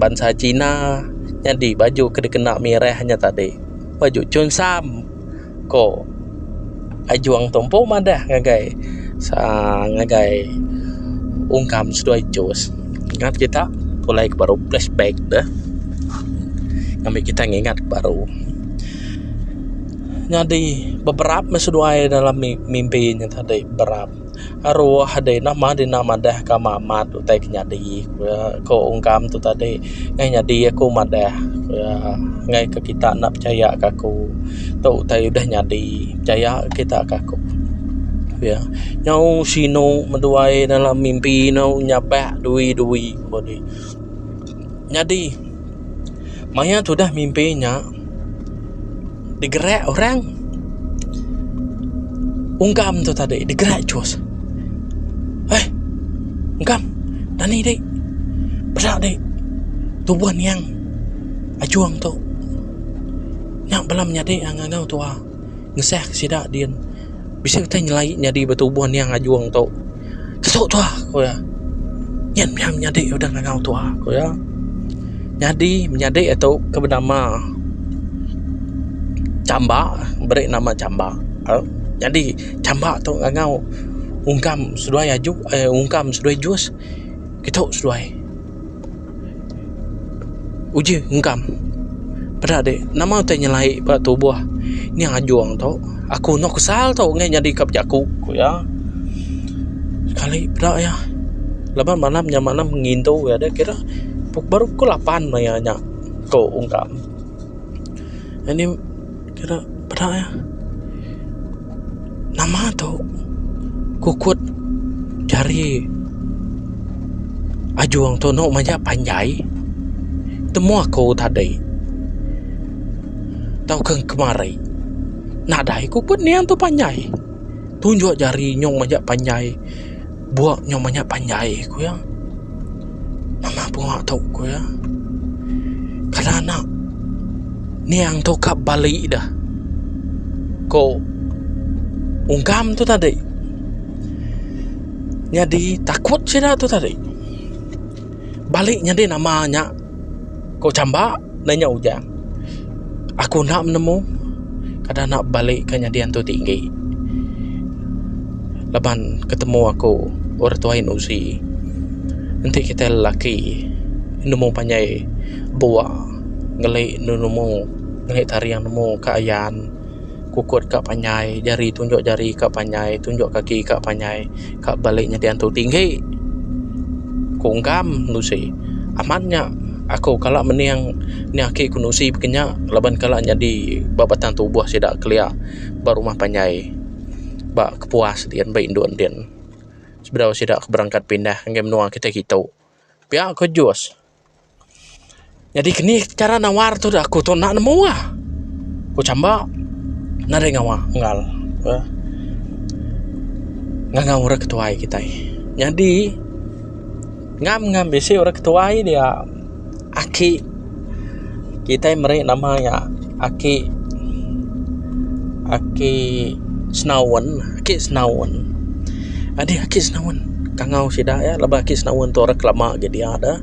bansa cina nyadi baju ke dikena mirah inya tadi baju chungsam. ko Ajong tu empu madah ngagai aa ngagai ungkam seduai cus ngan kita pulai ke baru flashback deh ngambi kita ngingat ke baru nyadi beberap meh seduai dalam mimpi nya tadi berap. aroh deh ina mah dina madah ka mak mat utai ke nyadi ko ungkam tu tadi neh nyadi aku madah ngai ka kita enda pechaya ka aku tu utai udah nyadi pechaya kita ka aku ya nyau sinu meduai dalam mimpi nyau nyabak dui dui ko dih. Nyadi maya tudah mimpi nya digerak orang ungkam tu tadi digerak cus. Hei ungkam dani dek peda dek tubuh niang ajong tu nya bala menyadi enggau tuah ngesah sida din bisi utai nyelai nyadi betubuh niang ajong tu. Tusuk tua, ku iya. Nyen mih iya menyadi udah ngangau tua, ku iya. Nyadi menyadi iya tu ke benama Chamba, beri nama Chamba. Nyadi Chamba tu ngangau ungkam seduai aju, ungkam seduai jus kitu seduai. Uji engkam. Peda dek, nama utai nyelai ba tubuh nya ajong tu. Aku enda kesal tu ngaih nyadi ka bejaku, ku iya. Sekali peda iya. Laban malam nya malam ngintu iya dek kira baru pukul lapan maia nya, ku engkam. Anih. Kira peda ya. Nama tu kukut jari ajung tu anu maja panjai temu aku tadi tau ke kemari nadai ku pun niang tu panjai tunjuk jari nyong maja panjai. Buak nyo banyak panjai ku iya. Mama bunga tu ku iya. Kala anak niang tu ka bali dah. Ko ungkam tu tadi. Nyadi takut sida tu tadi. Balik nyadi nama nya ku chamba ne nya Ujang. Aku enda menemu kada enda balik ke nyadi antu tinggi laban ketemu aku orang tuai enda usi enti kitai lelaki nemu panjai bua ngeli nemu ngeli tarian nemu ke ayan. Kukut ka panjai, jari tunjuk jari ka panjai, tunjuk kaki ka panjai, ka balik nyadi antu tinggi. Ku ungkam anu isi. Amat nya aku kala mening anih aki ku nusi baka nya laban kala nyadi ba batang tubuh sida kelia ba rumah panjai ba kepuas diin ba indu endin sebedau sida berangkat pindah ngagai menua kitai kitu. Pia ko Jus. Nyadi keni chara nawar tu aku tu enda nemu ah. Ku chamba enda deh ngawa enggau eh ngangau orang ketuai kitai. Nyadi ngam ngam bisi orang ketuai dia aki. Kitai meri nama iya Aki Aki Senaun Aki Senaun Adi Aki Senaun tangau sida iya laban Aki Senaun tu orang kelama gin dia deh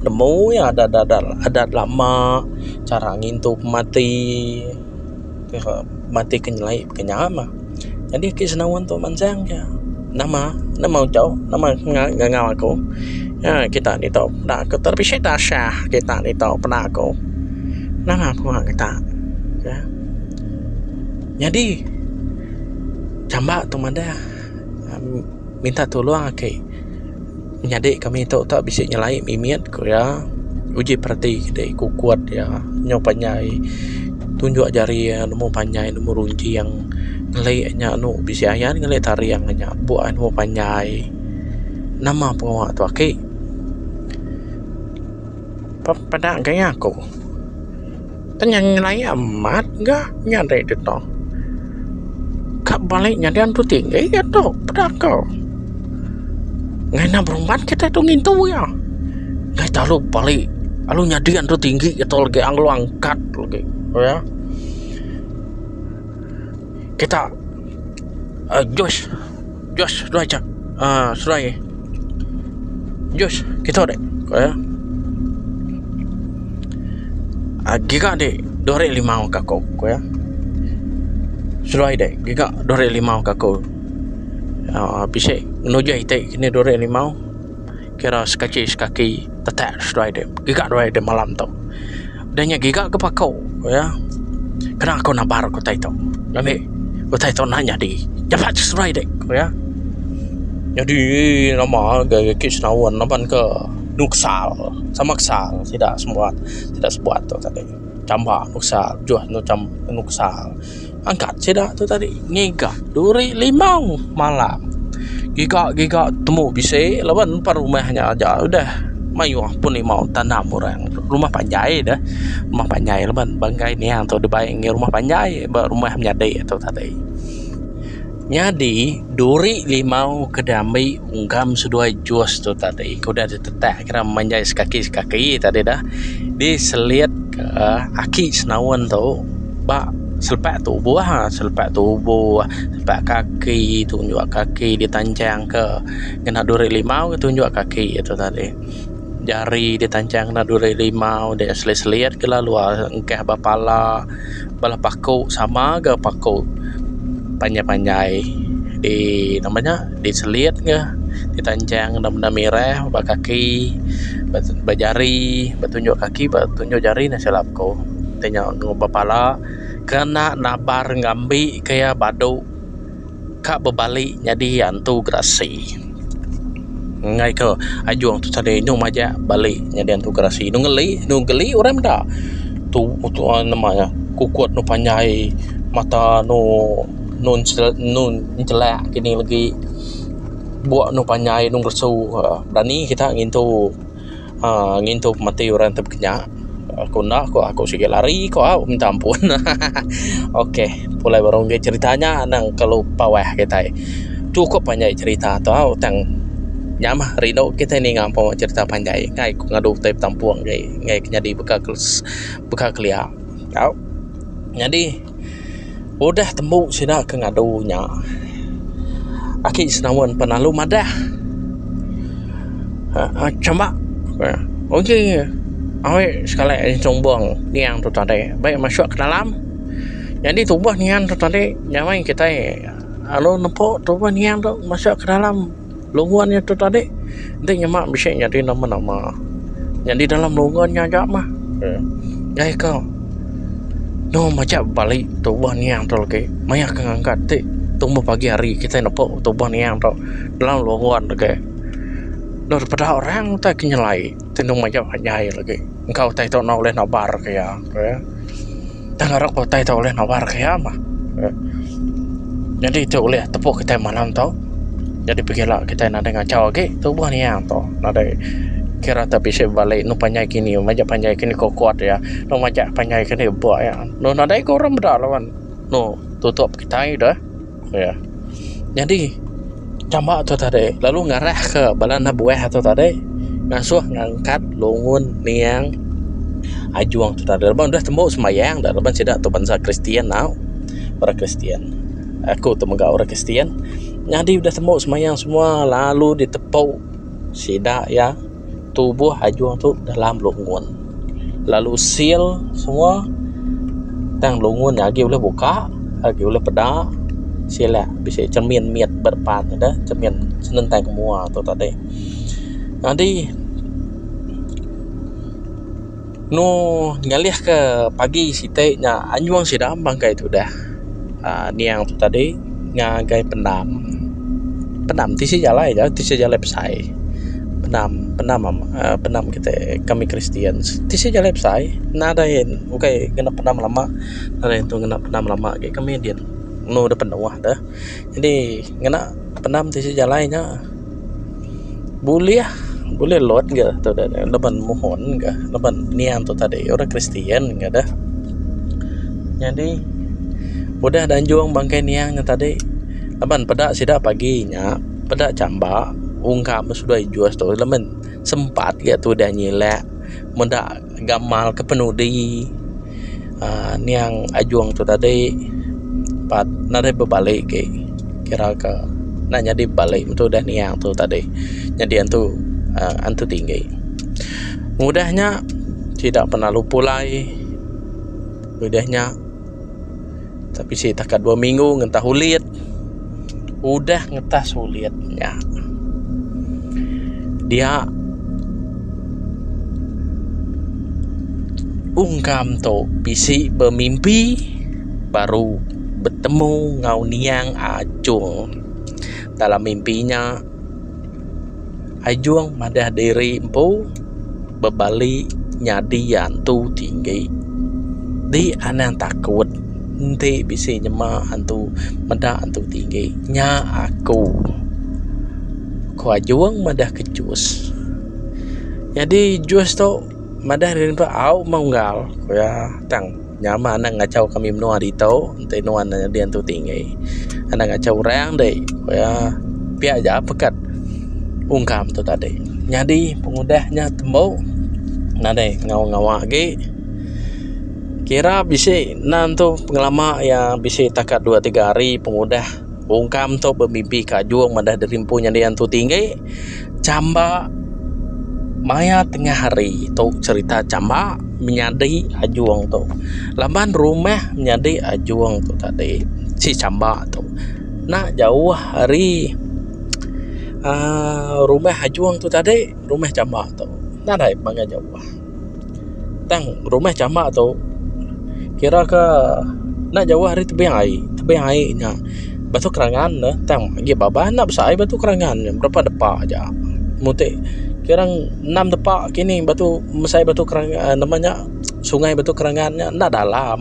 nemu iya adat adat lama chara ngintu pemati. mati ke nyelai ke nya mah nyadi ake senawan tu mansang ja nama nama ujo nama ngangau aku nya kita ni tau peda ku terpicit asah kita ni tau peda ku nama pengua kita ka nyadi chamba tu madah minta tolong ake. nyadi kami ito tu bisi nyelai mimit ku iya uji perati siti ku kuan iya nyu panjai tunjuk jari iya nemu panjai nemu runcing ngeli inya anu bisi ayan ngeli taring inya bu anu panjai nama pengawa tu aki peda gaya ku. Tanya ngelai amat ga nyadi dito. Ka balik nyadi antu tinggi ga tu peda ko. Ngaina berumban kita tu ngintu ya. Ngai talu balik alu nyadi antu tinggi ga tu lagi alu angkat lagi ya. Kita uh, Josh Josh, seduai chap. Ah, seduai eh. Josh, kita dek. Ko ya. Ah, giga dek. Dua hari lima ka ko, ko ya. Seduai dek. Giga dua hari lima ka ko. Ah, bisi nuja ite kini dua hari lima. Kira sekachi sekaki tetak seduai dek. Giga dua hari dek malam tu. Udah nya giga ke pako iya. Kena aku nabar ku utai tu. Ngambika utai tu enda nyadi. Japat ke seduai dik ku iya. Nyadi nama agei agi senaun laban ke enu kesal sama kesal sida semua sida sebuah tu tadi. Chamba anu kesal bejuh anu kesal. Angkat sida tu tadi ngiga duri limau malam. Giga giga temu bisi laban nempa rumah nya aja udah mayuh pun limau tanam orang. Rumah panjai deh rumah panjai laban banggai niang tu dibai rumah panjai ba rumah menyadi tu tadi. Nyadi, duri limau ke diambi enggam seduai jus tu tadi ke udah ditetak kira menjai sekaki-sekaki tadi dah diselitka aki senaun tu ba selepa tubuh ha, selepa tubuh, selepa kaki, tunjuk kaki ditanchangka ngena duri limau ke tunjuk kaki iya tu tadi. Jari ditanchang ngena duri limau, diselit-selit kena luar engkah ba pala. bala paku sama ga paku panjai panjai di nama nya di selit ga di tanjang enda menda mireh ba kaki ba jari ba tunjuk kaki ba tunjuk jari ne silap ku tanya ba pala kena nabar ngambi ke iya badu. ka bebali nyadi antu gerasi enggai ke ajung tu tadi inu majak bali nyadi antu gerasi inu ngeli inu geli orang meda tu tu nama iya kukut anu panjai mata anu nun nun chelak kini legi buk anu panjai anu ngeresu berani kita ngintu. aaa ngintu pemati orang ti bekenya aku enda ku aku sigi lari ku au minta ampun hahaha okey pulai baru meri cerita nya nang kelu pawah kitai chukup anjai cerita tu au tang nya mah rindu kitai ninga empu cerita panjai ngai ku ngadu utai betampung ngai ke nyadi baka kelia au nyadi. Udah tembu sida ke ngadu nya, aki senawan pan lalu madah uhh chambak uhh uji awi sekali aja chumbung niang tu tadi be masuk ke dalam nyadi tuboh niang tu tadi nyamai kitai lalu nepu tuboh niang tu masuk ke dalam. Lungan iya tu tadi enti nyema bisi nyadi nama-nama nyadi dalam lungan iya aja mah nyai ko eno majak bali tuboh niang tu agi maya ke ngangkat ti tumbuh pagi hari kitai nepu tuboh niang tu dalam lungan agi eno peda orang utai ke nyelai. Tenung majau ka nyai lagi. Engka utai tu enda ulih nabar ka iya. Tang ngarak ba utai tu ulih nabar ka iya mah. Nyadi tu ulih tepu kitai malam tu. Nyadi pegila kitai nadai ngachau agi tubuh nia tu. Nadai kira tok bisi bebali enu panjai kini majak panjai kini kokot iya. Enu majak panjai kini buk iya. Nadai ke orang meda laban enu tutup kitai deh. Iya. Nyadi chama tu tadi lalu ngarahka bala anak buah tu tadi ngasuh ngangkat lungun niang ajung tu tadi laban deh tembu sembahyang dah laban sida tu bansa kristian tau. Orang kristian. Aku tu mega orang kristian. Nyadi udah tembu sembahyang semua lalu ditepu sida iya. tubuh ajung tu dalam lungun lalu seal semua tang lungun nya agi ulih buka agi ulih peda sila bisi cermin mit ba depan deh cermin senentang ke mua tu tadi jadi. Enu ngalihka pagi siti nya anjung sida bangkai tudah uhh niang tu tadi ngagai pendam. Pendam tisi jalai ga tisi jalai besai pendam pendam uhh pendam kite kami kristian tisi jalai besai nadai ukai ngena pendam lama nadai tu ngena pendam lama agei kami din enu da penuh deh. Jadi ngena pendam tisi jalai nya. Bulih, bulih lot ga tu da nya laban mohon ga laban niang tu tadi orang kristian ga deh. Nyadi udah da anjung bangkai niang nya tadi laban peda sida pagi nya peda chamba ungkap masu dua injus tu laban sempat ga tudah nyilek meda. gamal ke penudi aaa niang ajong tu tadi pat nadai bebali agi kira ke enda nyadi bebali metu udah niang tu tadi nyadi antu aaa antu tinggi ngudah nya sida pengalu pulai udah nya. Tapi si takat dua minggu ngentah ulit. Udah ngetah sulit nya. Dia ungkam tu bisi bemimpi baru betemu enggau niang Ajong dalam mimpi nya. Ijong madah diri empu bebali nyadi iya entu ti enggi. Di anang takut enti bisi nyema entu meda entu ti enggi nya aku, ku Ajong madah ke Jus. Nyadi Jus tu madah diri empu au menggal, ku iya tang. Nyama anak ngachau kami menua ditu enti nuan nyadi antu ti enggai anak ngachau orang deh pia pia ja pekat ungkam tu tadi nyadi pengudah nya tembu nadai ngawa ngawa agi kira bisi nan tu pengelama iya bisi takat dua tiga hari pengudah ungkam tu bemimpi ke ajung madah deri empu nyadi antu ti enggai. chamba maya tengah hari tu cherita chamba menyadi ajung tu laban rumah menyadi ajung tu tadi si chamba tu nak jauh ari aaa rumah ajung tu tadi rumah chamba tu nadai panggah jauh. Tang rumah chama tu kira ke enda jauh ari tebing ai, tebing ai nya batu kerangan ne tang agi babah enda basa ai batu kerangan nya berapa depa aja mung ti kira enam depa kini batu mesai batu kerangan nama nya sungai batu kerangan nya enda dalam.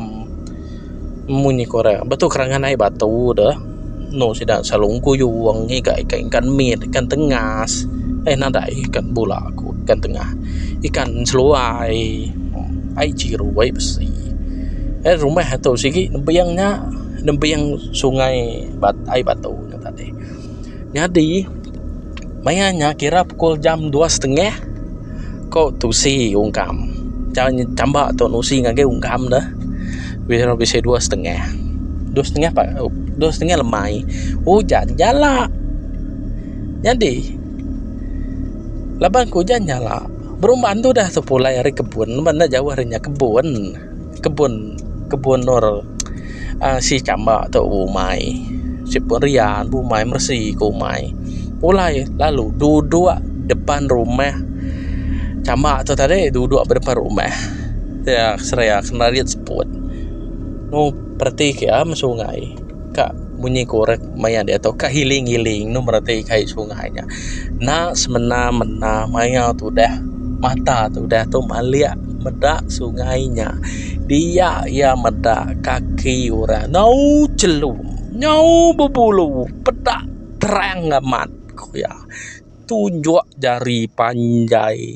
munyi korang betul kerangan ai batu de eno sida selalu engkuyu wang ngiga ikan ikan mit ikan tengas eh nadai ikan bula ku ikan tengah ikan seluai ai chiru ai bisi eh rumah tu sigi nebing nya nebing sungai ai batu nya tadi. Nyadi maya nya kira pukul jam dua setengah ko tusi ungkam chamba tu nusi ngagai ungkam ne ira bisi dua setengah dua setengah pa dua setengah lemai ujan jala nyadi laban ujan jala berumban tu dah tepulai ari kebun laban enda jauh ari inya kebun. kebun kebun nur uhh si chamba tu umai si pun ria pun umai mesi ku umai pulai lalu duduk depan rumah chamba tu tadi duduk ba depan rumah dia seria kena rit seput nu pereti ke ah mesungai. Ka munyi korek maya dia tu ka hiling hiling enu bereti kai sungai nya enda semena mena maya tu udah mata tu udah tu malik meda sungai nya dia iya meda kaki orang nyau chelum nyau bebulu peda terang amat ku iya tunjuk jari panjai.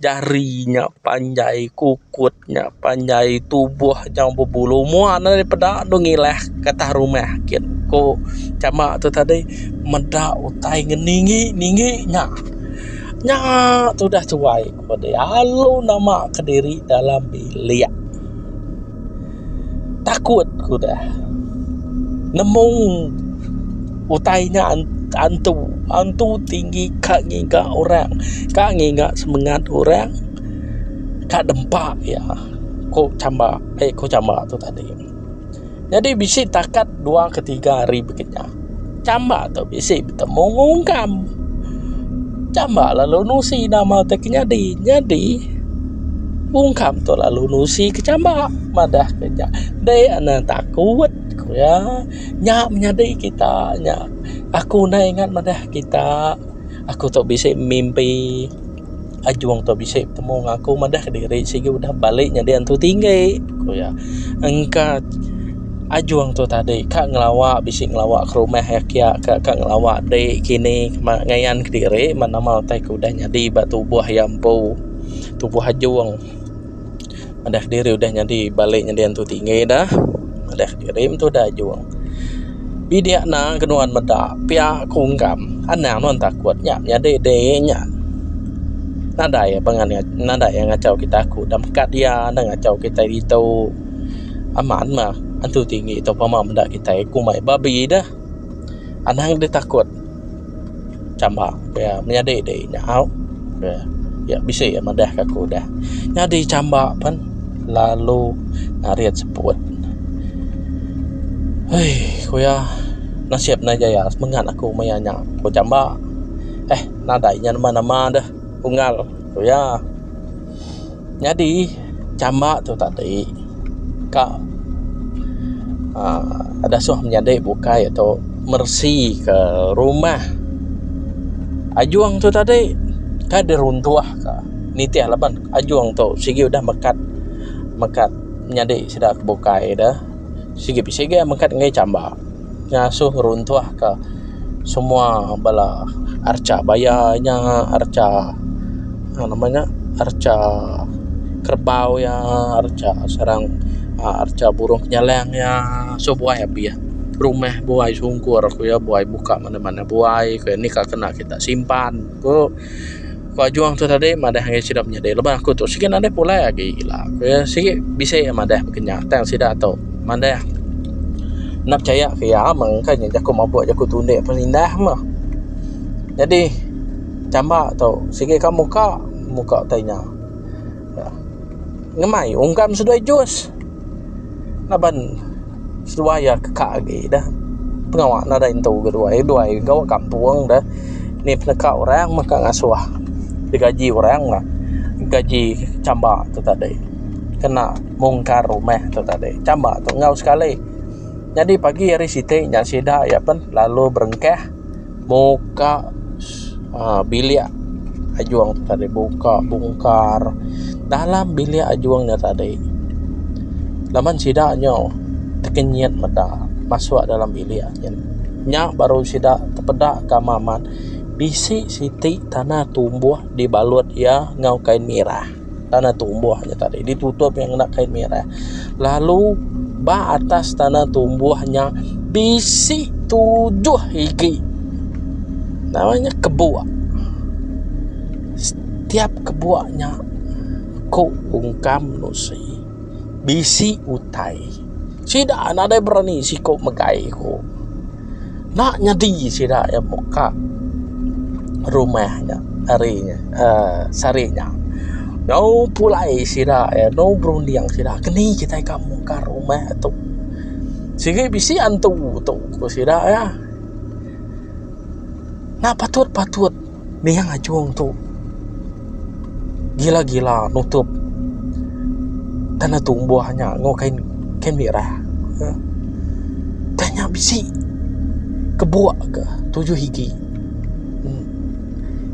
jari nya panjai kukut nya panjai tubuh nyau bebulu mua ne deh peda deh ngilah getah rumah ake ku chama tu tadi meda utai ngan ningi ningi nya nya tu udah tuai ku deh alu nama kediri dalam bilik. takut ku deh nemu utai nya antu antu tinggi ka ngiga orang ka ngiga semengat orang ka dempa iya ku chamba ku chamba tu tadi jadi bisi takat dua ke tiga hari bisi. Chamba tu bisi betemu ngan ungkam. Chamba lalu nusi nama te ke nyadi. Nyadi ungkam tu lalu nusi ke chamba madah ke nya. Dei a ne takut ku iya. Nya menyadi kita nya. Aku nai ngat madah kita. Aku tu bisi mimpi. Ajong tu bisi betemu enggau aku madah ke diri sigi udah balik nyadi antu tinggi, ku iya. Engka Ajong tu tadi ka ngelawa bisi ngelawa ke rumah iya kiya ka, ka ngelawa ade kini ma ngayan ke diri ma nama utai ke udah nyadi ba tubuh iya empu, tubuh Ajong. Madah diri udah nyadi balik nyadi antu tinggi dah. Madah diri mentu udah ajung. Bidik ena ke nuan meda pia ku ungkam. Anang nuan takut nya nyadi deh nya. Nadai pengan nadai iya ngachau kita ku dah mekat iya enda ngachau kitai ditu. Amat mah antu tinggi tu pemah meda kitai ku mai babi dah. Anang deh takut. chamba pia menyadi di nyau pia bisi iya madah ka aku udah nyadi chamba pen lalu ngarit seput hei ku iya nasib ne aja iya semengat aku maya nya ku chamba eh nadai inya namba namba deh unggal ku iya. Nyadi chamba tu tadi ka uhh disuh menyadi bukai tu meresi ka rumah ajung tu tadi ka diruntuh ka nitih laban ajung tu sigi udah mekat mekat nyadi sida ke bukai deh sigi bisi ga mekat ngagai chamba. ngasuh ngeruntuh ka semua bala archa bayar inya archa uhh nama nya archa kerbau iya archa serang archa burung penyalang iya masu buai abih rumah buai sungkur ku iya buai buka mana-mana buai ku iya nika kena kita simpan ku. Ku Ajong tu tadi madah angai sida menyadi laban aku tu sigi nadai pulai agi ila ku iya sigi bisi iya madah baka nya tang sida tu madah enda pechaya ke iya meng ka nya jaku mabuk jaku tu ende pun indah meh. Jadi chamba tu sigi ka muka muka utai nya. ngemai ungkam seduai jus laban seduai iya keka agi dah pengawa nadai entu ga duai duai gawa kampung dah ni peneka orang meka ngasuh digaji orang ga gaji chamba tu tadi kena mungkar rumah tu tadi chamba tu enggau sekali nyadi pagi hari siti nya sida iya pen lalu berengkah. Buka aaa bilik ajung tu tadi buka bungkar dalam bilik ajung nya tadi laban sida nyu tekenyit meda masuk dalam bilik nyin nya baru sida tepeda ka amat bisi siti tanah tumbuh dibalut iya enggau kain mirah. Tanah tumbuh nya tadi ditutup yang ngena kain merah. Lalu ba atas tanah tumbuh nya bisi tujuh igi. Namanya kebuak. Setiap kebuak nya ko ungkam nusi. Bisi utai. Sida nadai berani siku megai ku. Enda nyadi sida iya muka rumah nya ari nya uhh sehari nya. Nyau pulai sida iya nyau berunding sida keni kitai ka muka rumah tu. Sigi bisi antu tu ku sida iya. Enda patut-patut. Ninga ngajung tu. Gila gila nutup tanah tumbuh nya enggau kain kain mirah. Tang nya bisi kebuk ke tujuh igi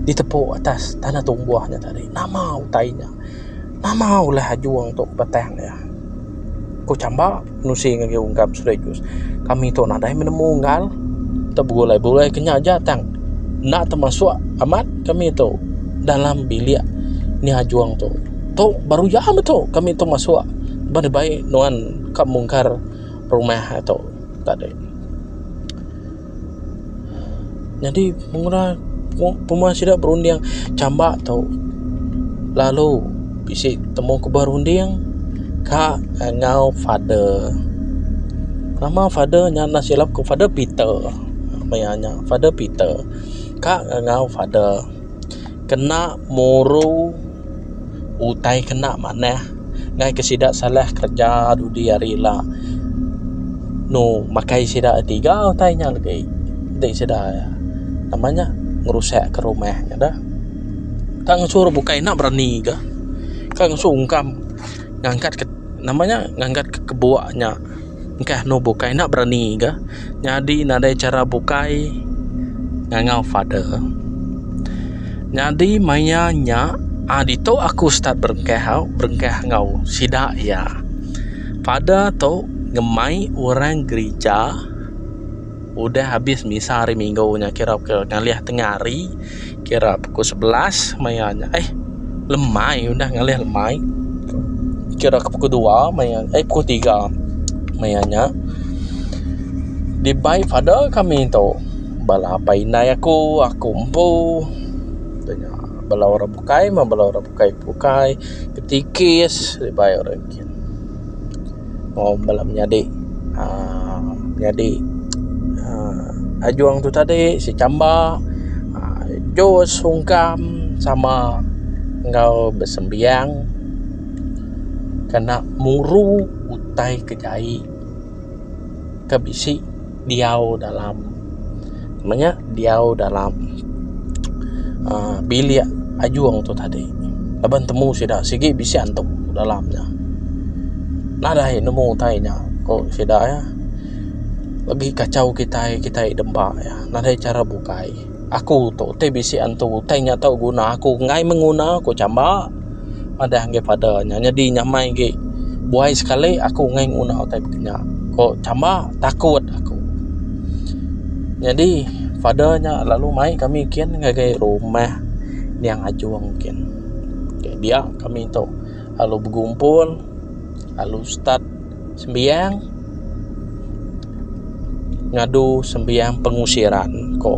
ditepu atas tanah tumbuh nya tadi. Nama utai nya. Nama ulah ajung tu batang nya. Ku chamba. Nusi ngagai ungkap sekaligus. Kami tu nadai menemu enggal. Tak begulai-bulai kenya aja tang. Enda temasuk amat kami tu dalam bilik ni ajung tu. Tu baru iya metu kami tu masuk ba dibai nuan ka mungkar rumah tu tadi. Nyadi penguna puma sida berunding chamba tu lalu bisi temu ke berunding ka enggau father. Nama father nya enda silap ku father peter meh iya nya father peter ka enggau father kena muru. utai kena manah ngai ke sida salah kerja dudi hari ila enu makai sida tiga utai nya legi ti sida nama nya ngerusak ka rumah nya dah ka ngesu orang bukai enda berani ka ka ngesu ungkam ngangkat ka nama nya ngangkat ka kebuk nya. Engkah anu bukai enda berani ga nyadi nadai chara bukai ngangau father. Nyadi maya nya a ditu aku start berengkah au berengkah enggau sida iya. Father tu ngemai orang gerija udah habis misa hari minggu nya kira ke ngalih tengah hari. kira pukul sebelas maya nya eh lemai udah ngalih lemai kira ke pukul dua maya eh pukul tiga maya nya dibai father kami tu bala apai indai aku aku empu tanya bala orang bukai meh bala orang bukai bukai betikis dibai orang Mau bala menyadi aaa menyadi aaa ajong tu tadi secamba aaa Jos Sungkam sama enggau besembiang kena muru utai ke jai ke bisi. diau dalam nama nya diau dalam aaa bilik ajung tu tadi laban temu sida sigi bisi antuk dalam nya nadai nemu utai nya ku sida iya lagi kachau kitai kitai demba iya nadai chara bukai. Aku tu ti bisi antu utai nya tau guna aku enggai menguna ku chamba madah enggai pada nya nyadi nyamai agi buai sekali aku enggai nguna utai pika nya ku chamba takut aku nyadi pada nya lalu mai kami kin ngagai rumah Nyang Ajong kin dia kami tu lalu begumpul lalu start sembiang ngadu sembiang pengusiran ko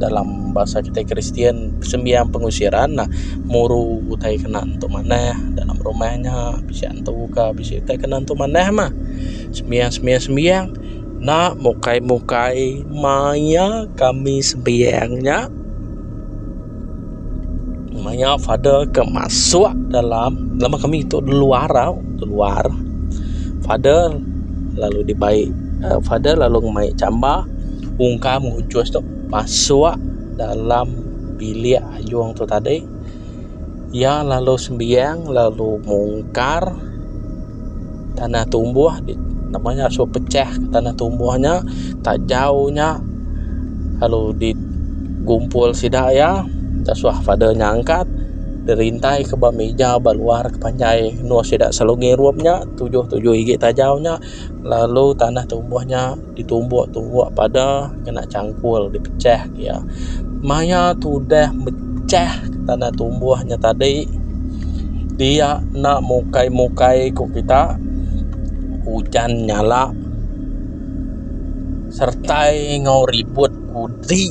dalam bahasa kita kristian sembiang pengusiran nah muru utai kena tu manah dalam rumah nya bisi antu ka bisi utai kena tu manah mah sembiang sembiang sembiang na mukai mukai maia kami sembiang nya. maya father ke masuk dalam lama kami tu luar tau luar father lalu di bai uh, father lalu mai chamba ungkam ngujus tu masuk dalam bilik ayung tu tadi ia lalu sembiang lalu mungkar tanah tumbuh di nama nya suah pecah tanah tumbuh nya tajau nya lalu di gumpul sida iya da suah father nya angkat di rintai ke ba mija ba luar ke panjai endur sida selalu ngirup nya tujuh tujuh igi tajau nya lalu tanah tumbuh nya. Ditumbuk tumbuk pada kena changkul dipechah iya maya tudah mechah tanah tumbuh nya tadi dia enda mukai mukai ku kita ujan nyala sertai enggau ribut kudi.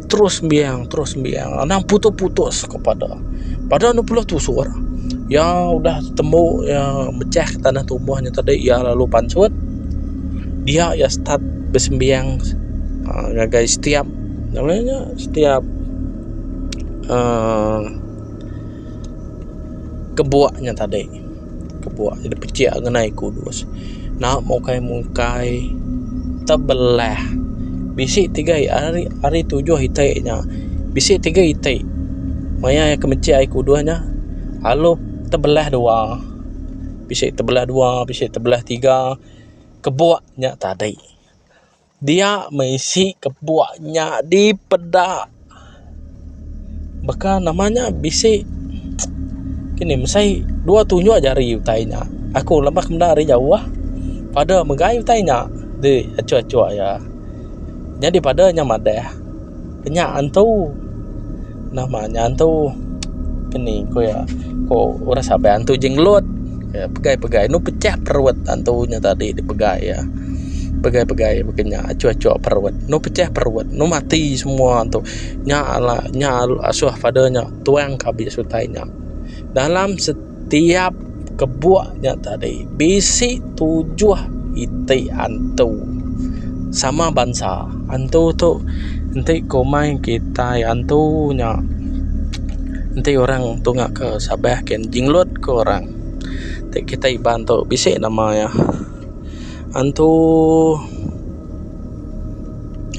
terus sembiang terus sembiang anang putus-putus kepada pada anu pula tusur yang udah temu yang mecah ke tanah tumbuh nya tadi ia lalu pansut dia ia start besembiang uh, ngagai setiap namanya setiap uh, kebuaknya tadi kebuah ida pejek ngenai aku bos enda mukai mukai tebelah bisi tiga hari hari tujuh iti nya bisi tiga iti maya aku mejek hari tujuh nya lalu tebelah dua bisi tebelah dua bisi tebelah tiga kebuah nya tadi. Dia meh isi kepuk nya dipeda. Baka nama nya bisi kini mesai dua tunjuk aja ari utai nya. Aku lemak menda ari jauh pada megai utai nya di achuk-achuk iya. Nyadi pada nya madah. Ke nya antu nama nya antu ke ni ku iya ku orang sabai antu jengelut pegai pegai enu pecah perut antu nya tadi dipegai iya pegai pegai ba ke nya achu achu perut enu pecah perut enu mati semua antu nya la nya asoh pada nya tuang ke abis utai nya dalam se Tiap kebuk nya tadi bisi tujuh iti antu sama bansa. Antu tu enti komai kitai antu nya enti orang tunga ke sabeh ken jenglot ke orang ti kitai iban tu bisi nama iya antu.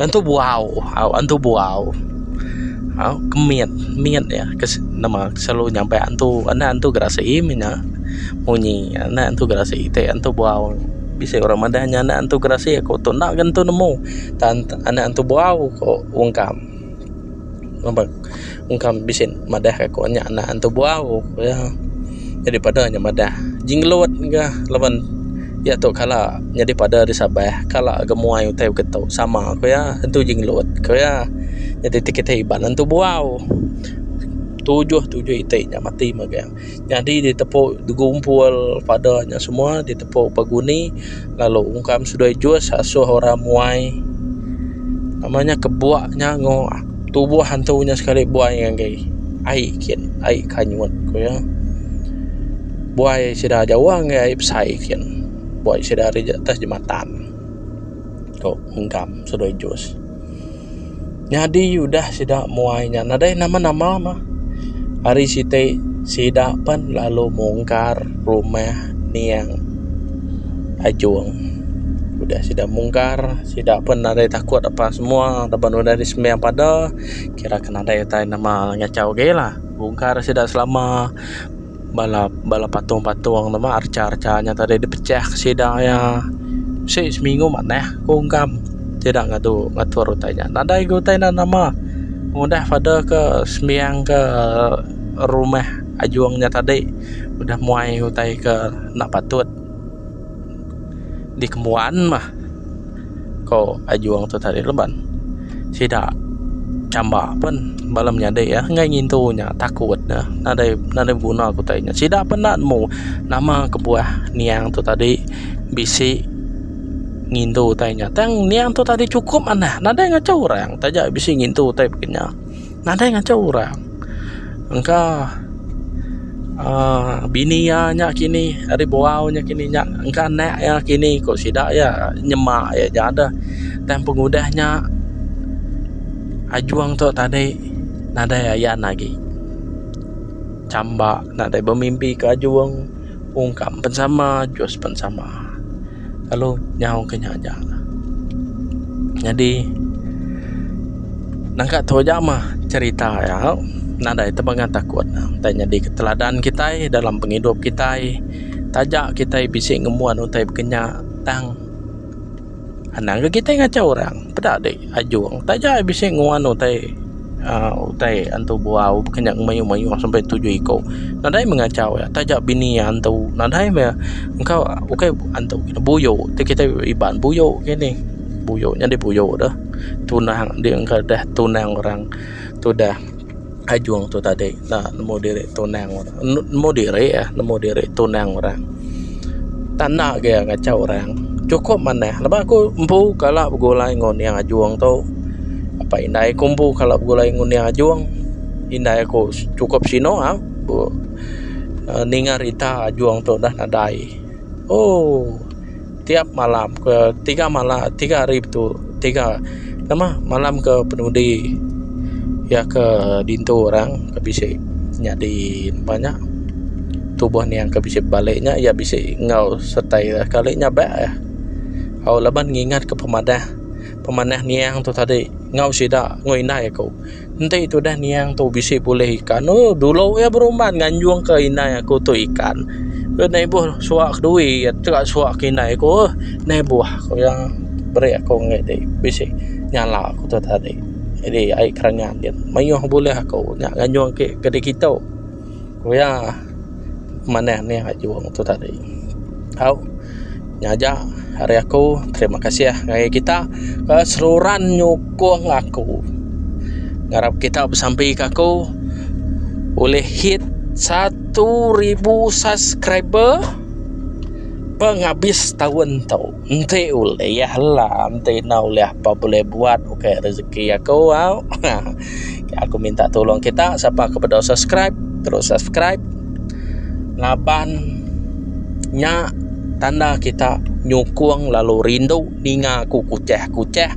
Antu buau au antu buau au ke mit mit iya ke nama selalu nyampai antu enda antu gerasi mina munyi enda antu gerasi ti antu buau bisi orang madah inya enda antu gerasi aku tu enda ga antu nemu tan enda antu buau ko ungkam. Ngambek engkau bisi madah aku nya anak antu bu'au ku iya. Jadi padah nya madah. Jinggelut ga laban iya tu kala nyadi padah di Sabah. Kala ga muai utai baka tu. Sama ku iya. Antu Jinggelut ku iya. Jadi ti kitai iban antu bu'au. Tujuh tujuh iti nya mati mega. Nyadi ditepu digumpul pada nya semua ditepu beguni lalu ungkam seduai jus asuh orang muai nama nya kebua nya engo tubuh hantu nya sekali buai ngagai ai kin ai kanyut ku iya buai sida jauh ngagai ai besai kin buai sida ari atas jematan tu ungkam seduai jus. Nyadi udah sida muai nya nadai nama nama mah ari siti sida pan lalu mungkar rumah niang Ajong udah sida mungkar sida pun nadai takut apa semua laban udah di sembiang padah kira ke nadai utai nama ngachau agi lah bungkar sida selama. Bala bala patung-patung ne mah archa-archa nya tadi dipecah ke sida iya. Bisi seminggu manah aku ungkam sida ngadu ngatur utai nya. Nadai lagi utai enda nama ngudah father ke sembiang ke rumah Ajong nya tadi udah muai utai ke enda patut. dikembuan mah ko ajung tu tadi leban sida chamba pen bala menyadi iya enggai ngintu nya takut nya nadai nadai beguna ko utai nya sida pun enda nemu nama kebuah niang tu tadi bisi ngintu utai nya tang niang tu tadi chukup manah nadai ngachau orang taja bisi ngintu utai pekenya. Nadai ngancak orang. Engka aaa bini iya nya kini ari buau nya kini nya engka anak iya kini ku sida iya nyema iya nya deh. Tang pengudah nya Ajong tu tadi nadai ayan agi. Chamba nadai bemimpika Ajong. Ungkam pun sama, jus pun sama. Lalu nyau ke nya aja. Nyadi nangka tu aja mah cerita iya nadai tebuk ngatakut ne. Utai nyadi ke teladan kitai dalam pengidup kitai. Taja kitai bisi ngembuan utai baka nya tang. Anang ke kitai ngachau orang. Peda deh ajung. Taja ai bisi nguan utai aaa utai antu buau bukan nya ngemayuh-mayuh sampai tujuh iko. Nadai meh ngachau iya. Taja bini iya antu. Nadai meh engka ukai antu kitai. Buyo ti kitai Iban. Buyo ke nih. Buyo nyadi buyo deh. Tunang deh engka deh tunang orang tu deh. Ajung tu tadi enda nemu diri tunang orang. Nemu diri ah, nemu diri tunang orang. Tak enda agi ngachau orang. Chukup manah laban aku empu kala begulai enggau Ning Ajung tu. Apa indai aku empu kala begulai enggau Ning Ajung. Indai aku chukup sinu au ninga rita Ajung tu udah nadai. Ooh. tiap malam ke tiga malam tiga hari betul tiga nama malam ke penudi iya ke dintu orang ke bisi nyadi empa nya tubuh niang ke bisi balik nya iya bisi enggau sereta iya kali nya ba iya au laban ngingat ke pemadah pemanah niang tu tadi enggau sida enggau indai aku. Enti tudah niang tu bisi bulih ikan ooh dulu iya beruman nganjung ke indai aku tu ikan ke neh ibuh suwa kedui iya tega suwa ke indai aku ooh neh ibuh ku iya beri aku neh ti bisi nyala aku tu tadi jadi ai kerenyah mayuh bulih aku nya nganjung ake keditu. Ku iya, manah nih ngejung tu tadi. Au, nya aja ari aku. Terima kasih ngagai kita ke seruran nyukung aku. Ngarap kita besampi ke aku ulih hit satu ribu subscriber pengabis taun tu. Enti ulih lah. Enti enda ulih apai bulih buat ukai rejeki aku. Au. aku minta tolong kita siapa ke beda subscribe terus subscribe laban nya tanda kita nyukung lalu rindu ninga aku kucah-kucah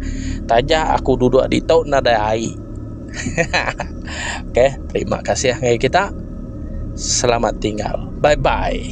taja aku duduk di tu nadai ai okey terima kasih ngai kita selamat tinggal bye bye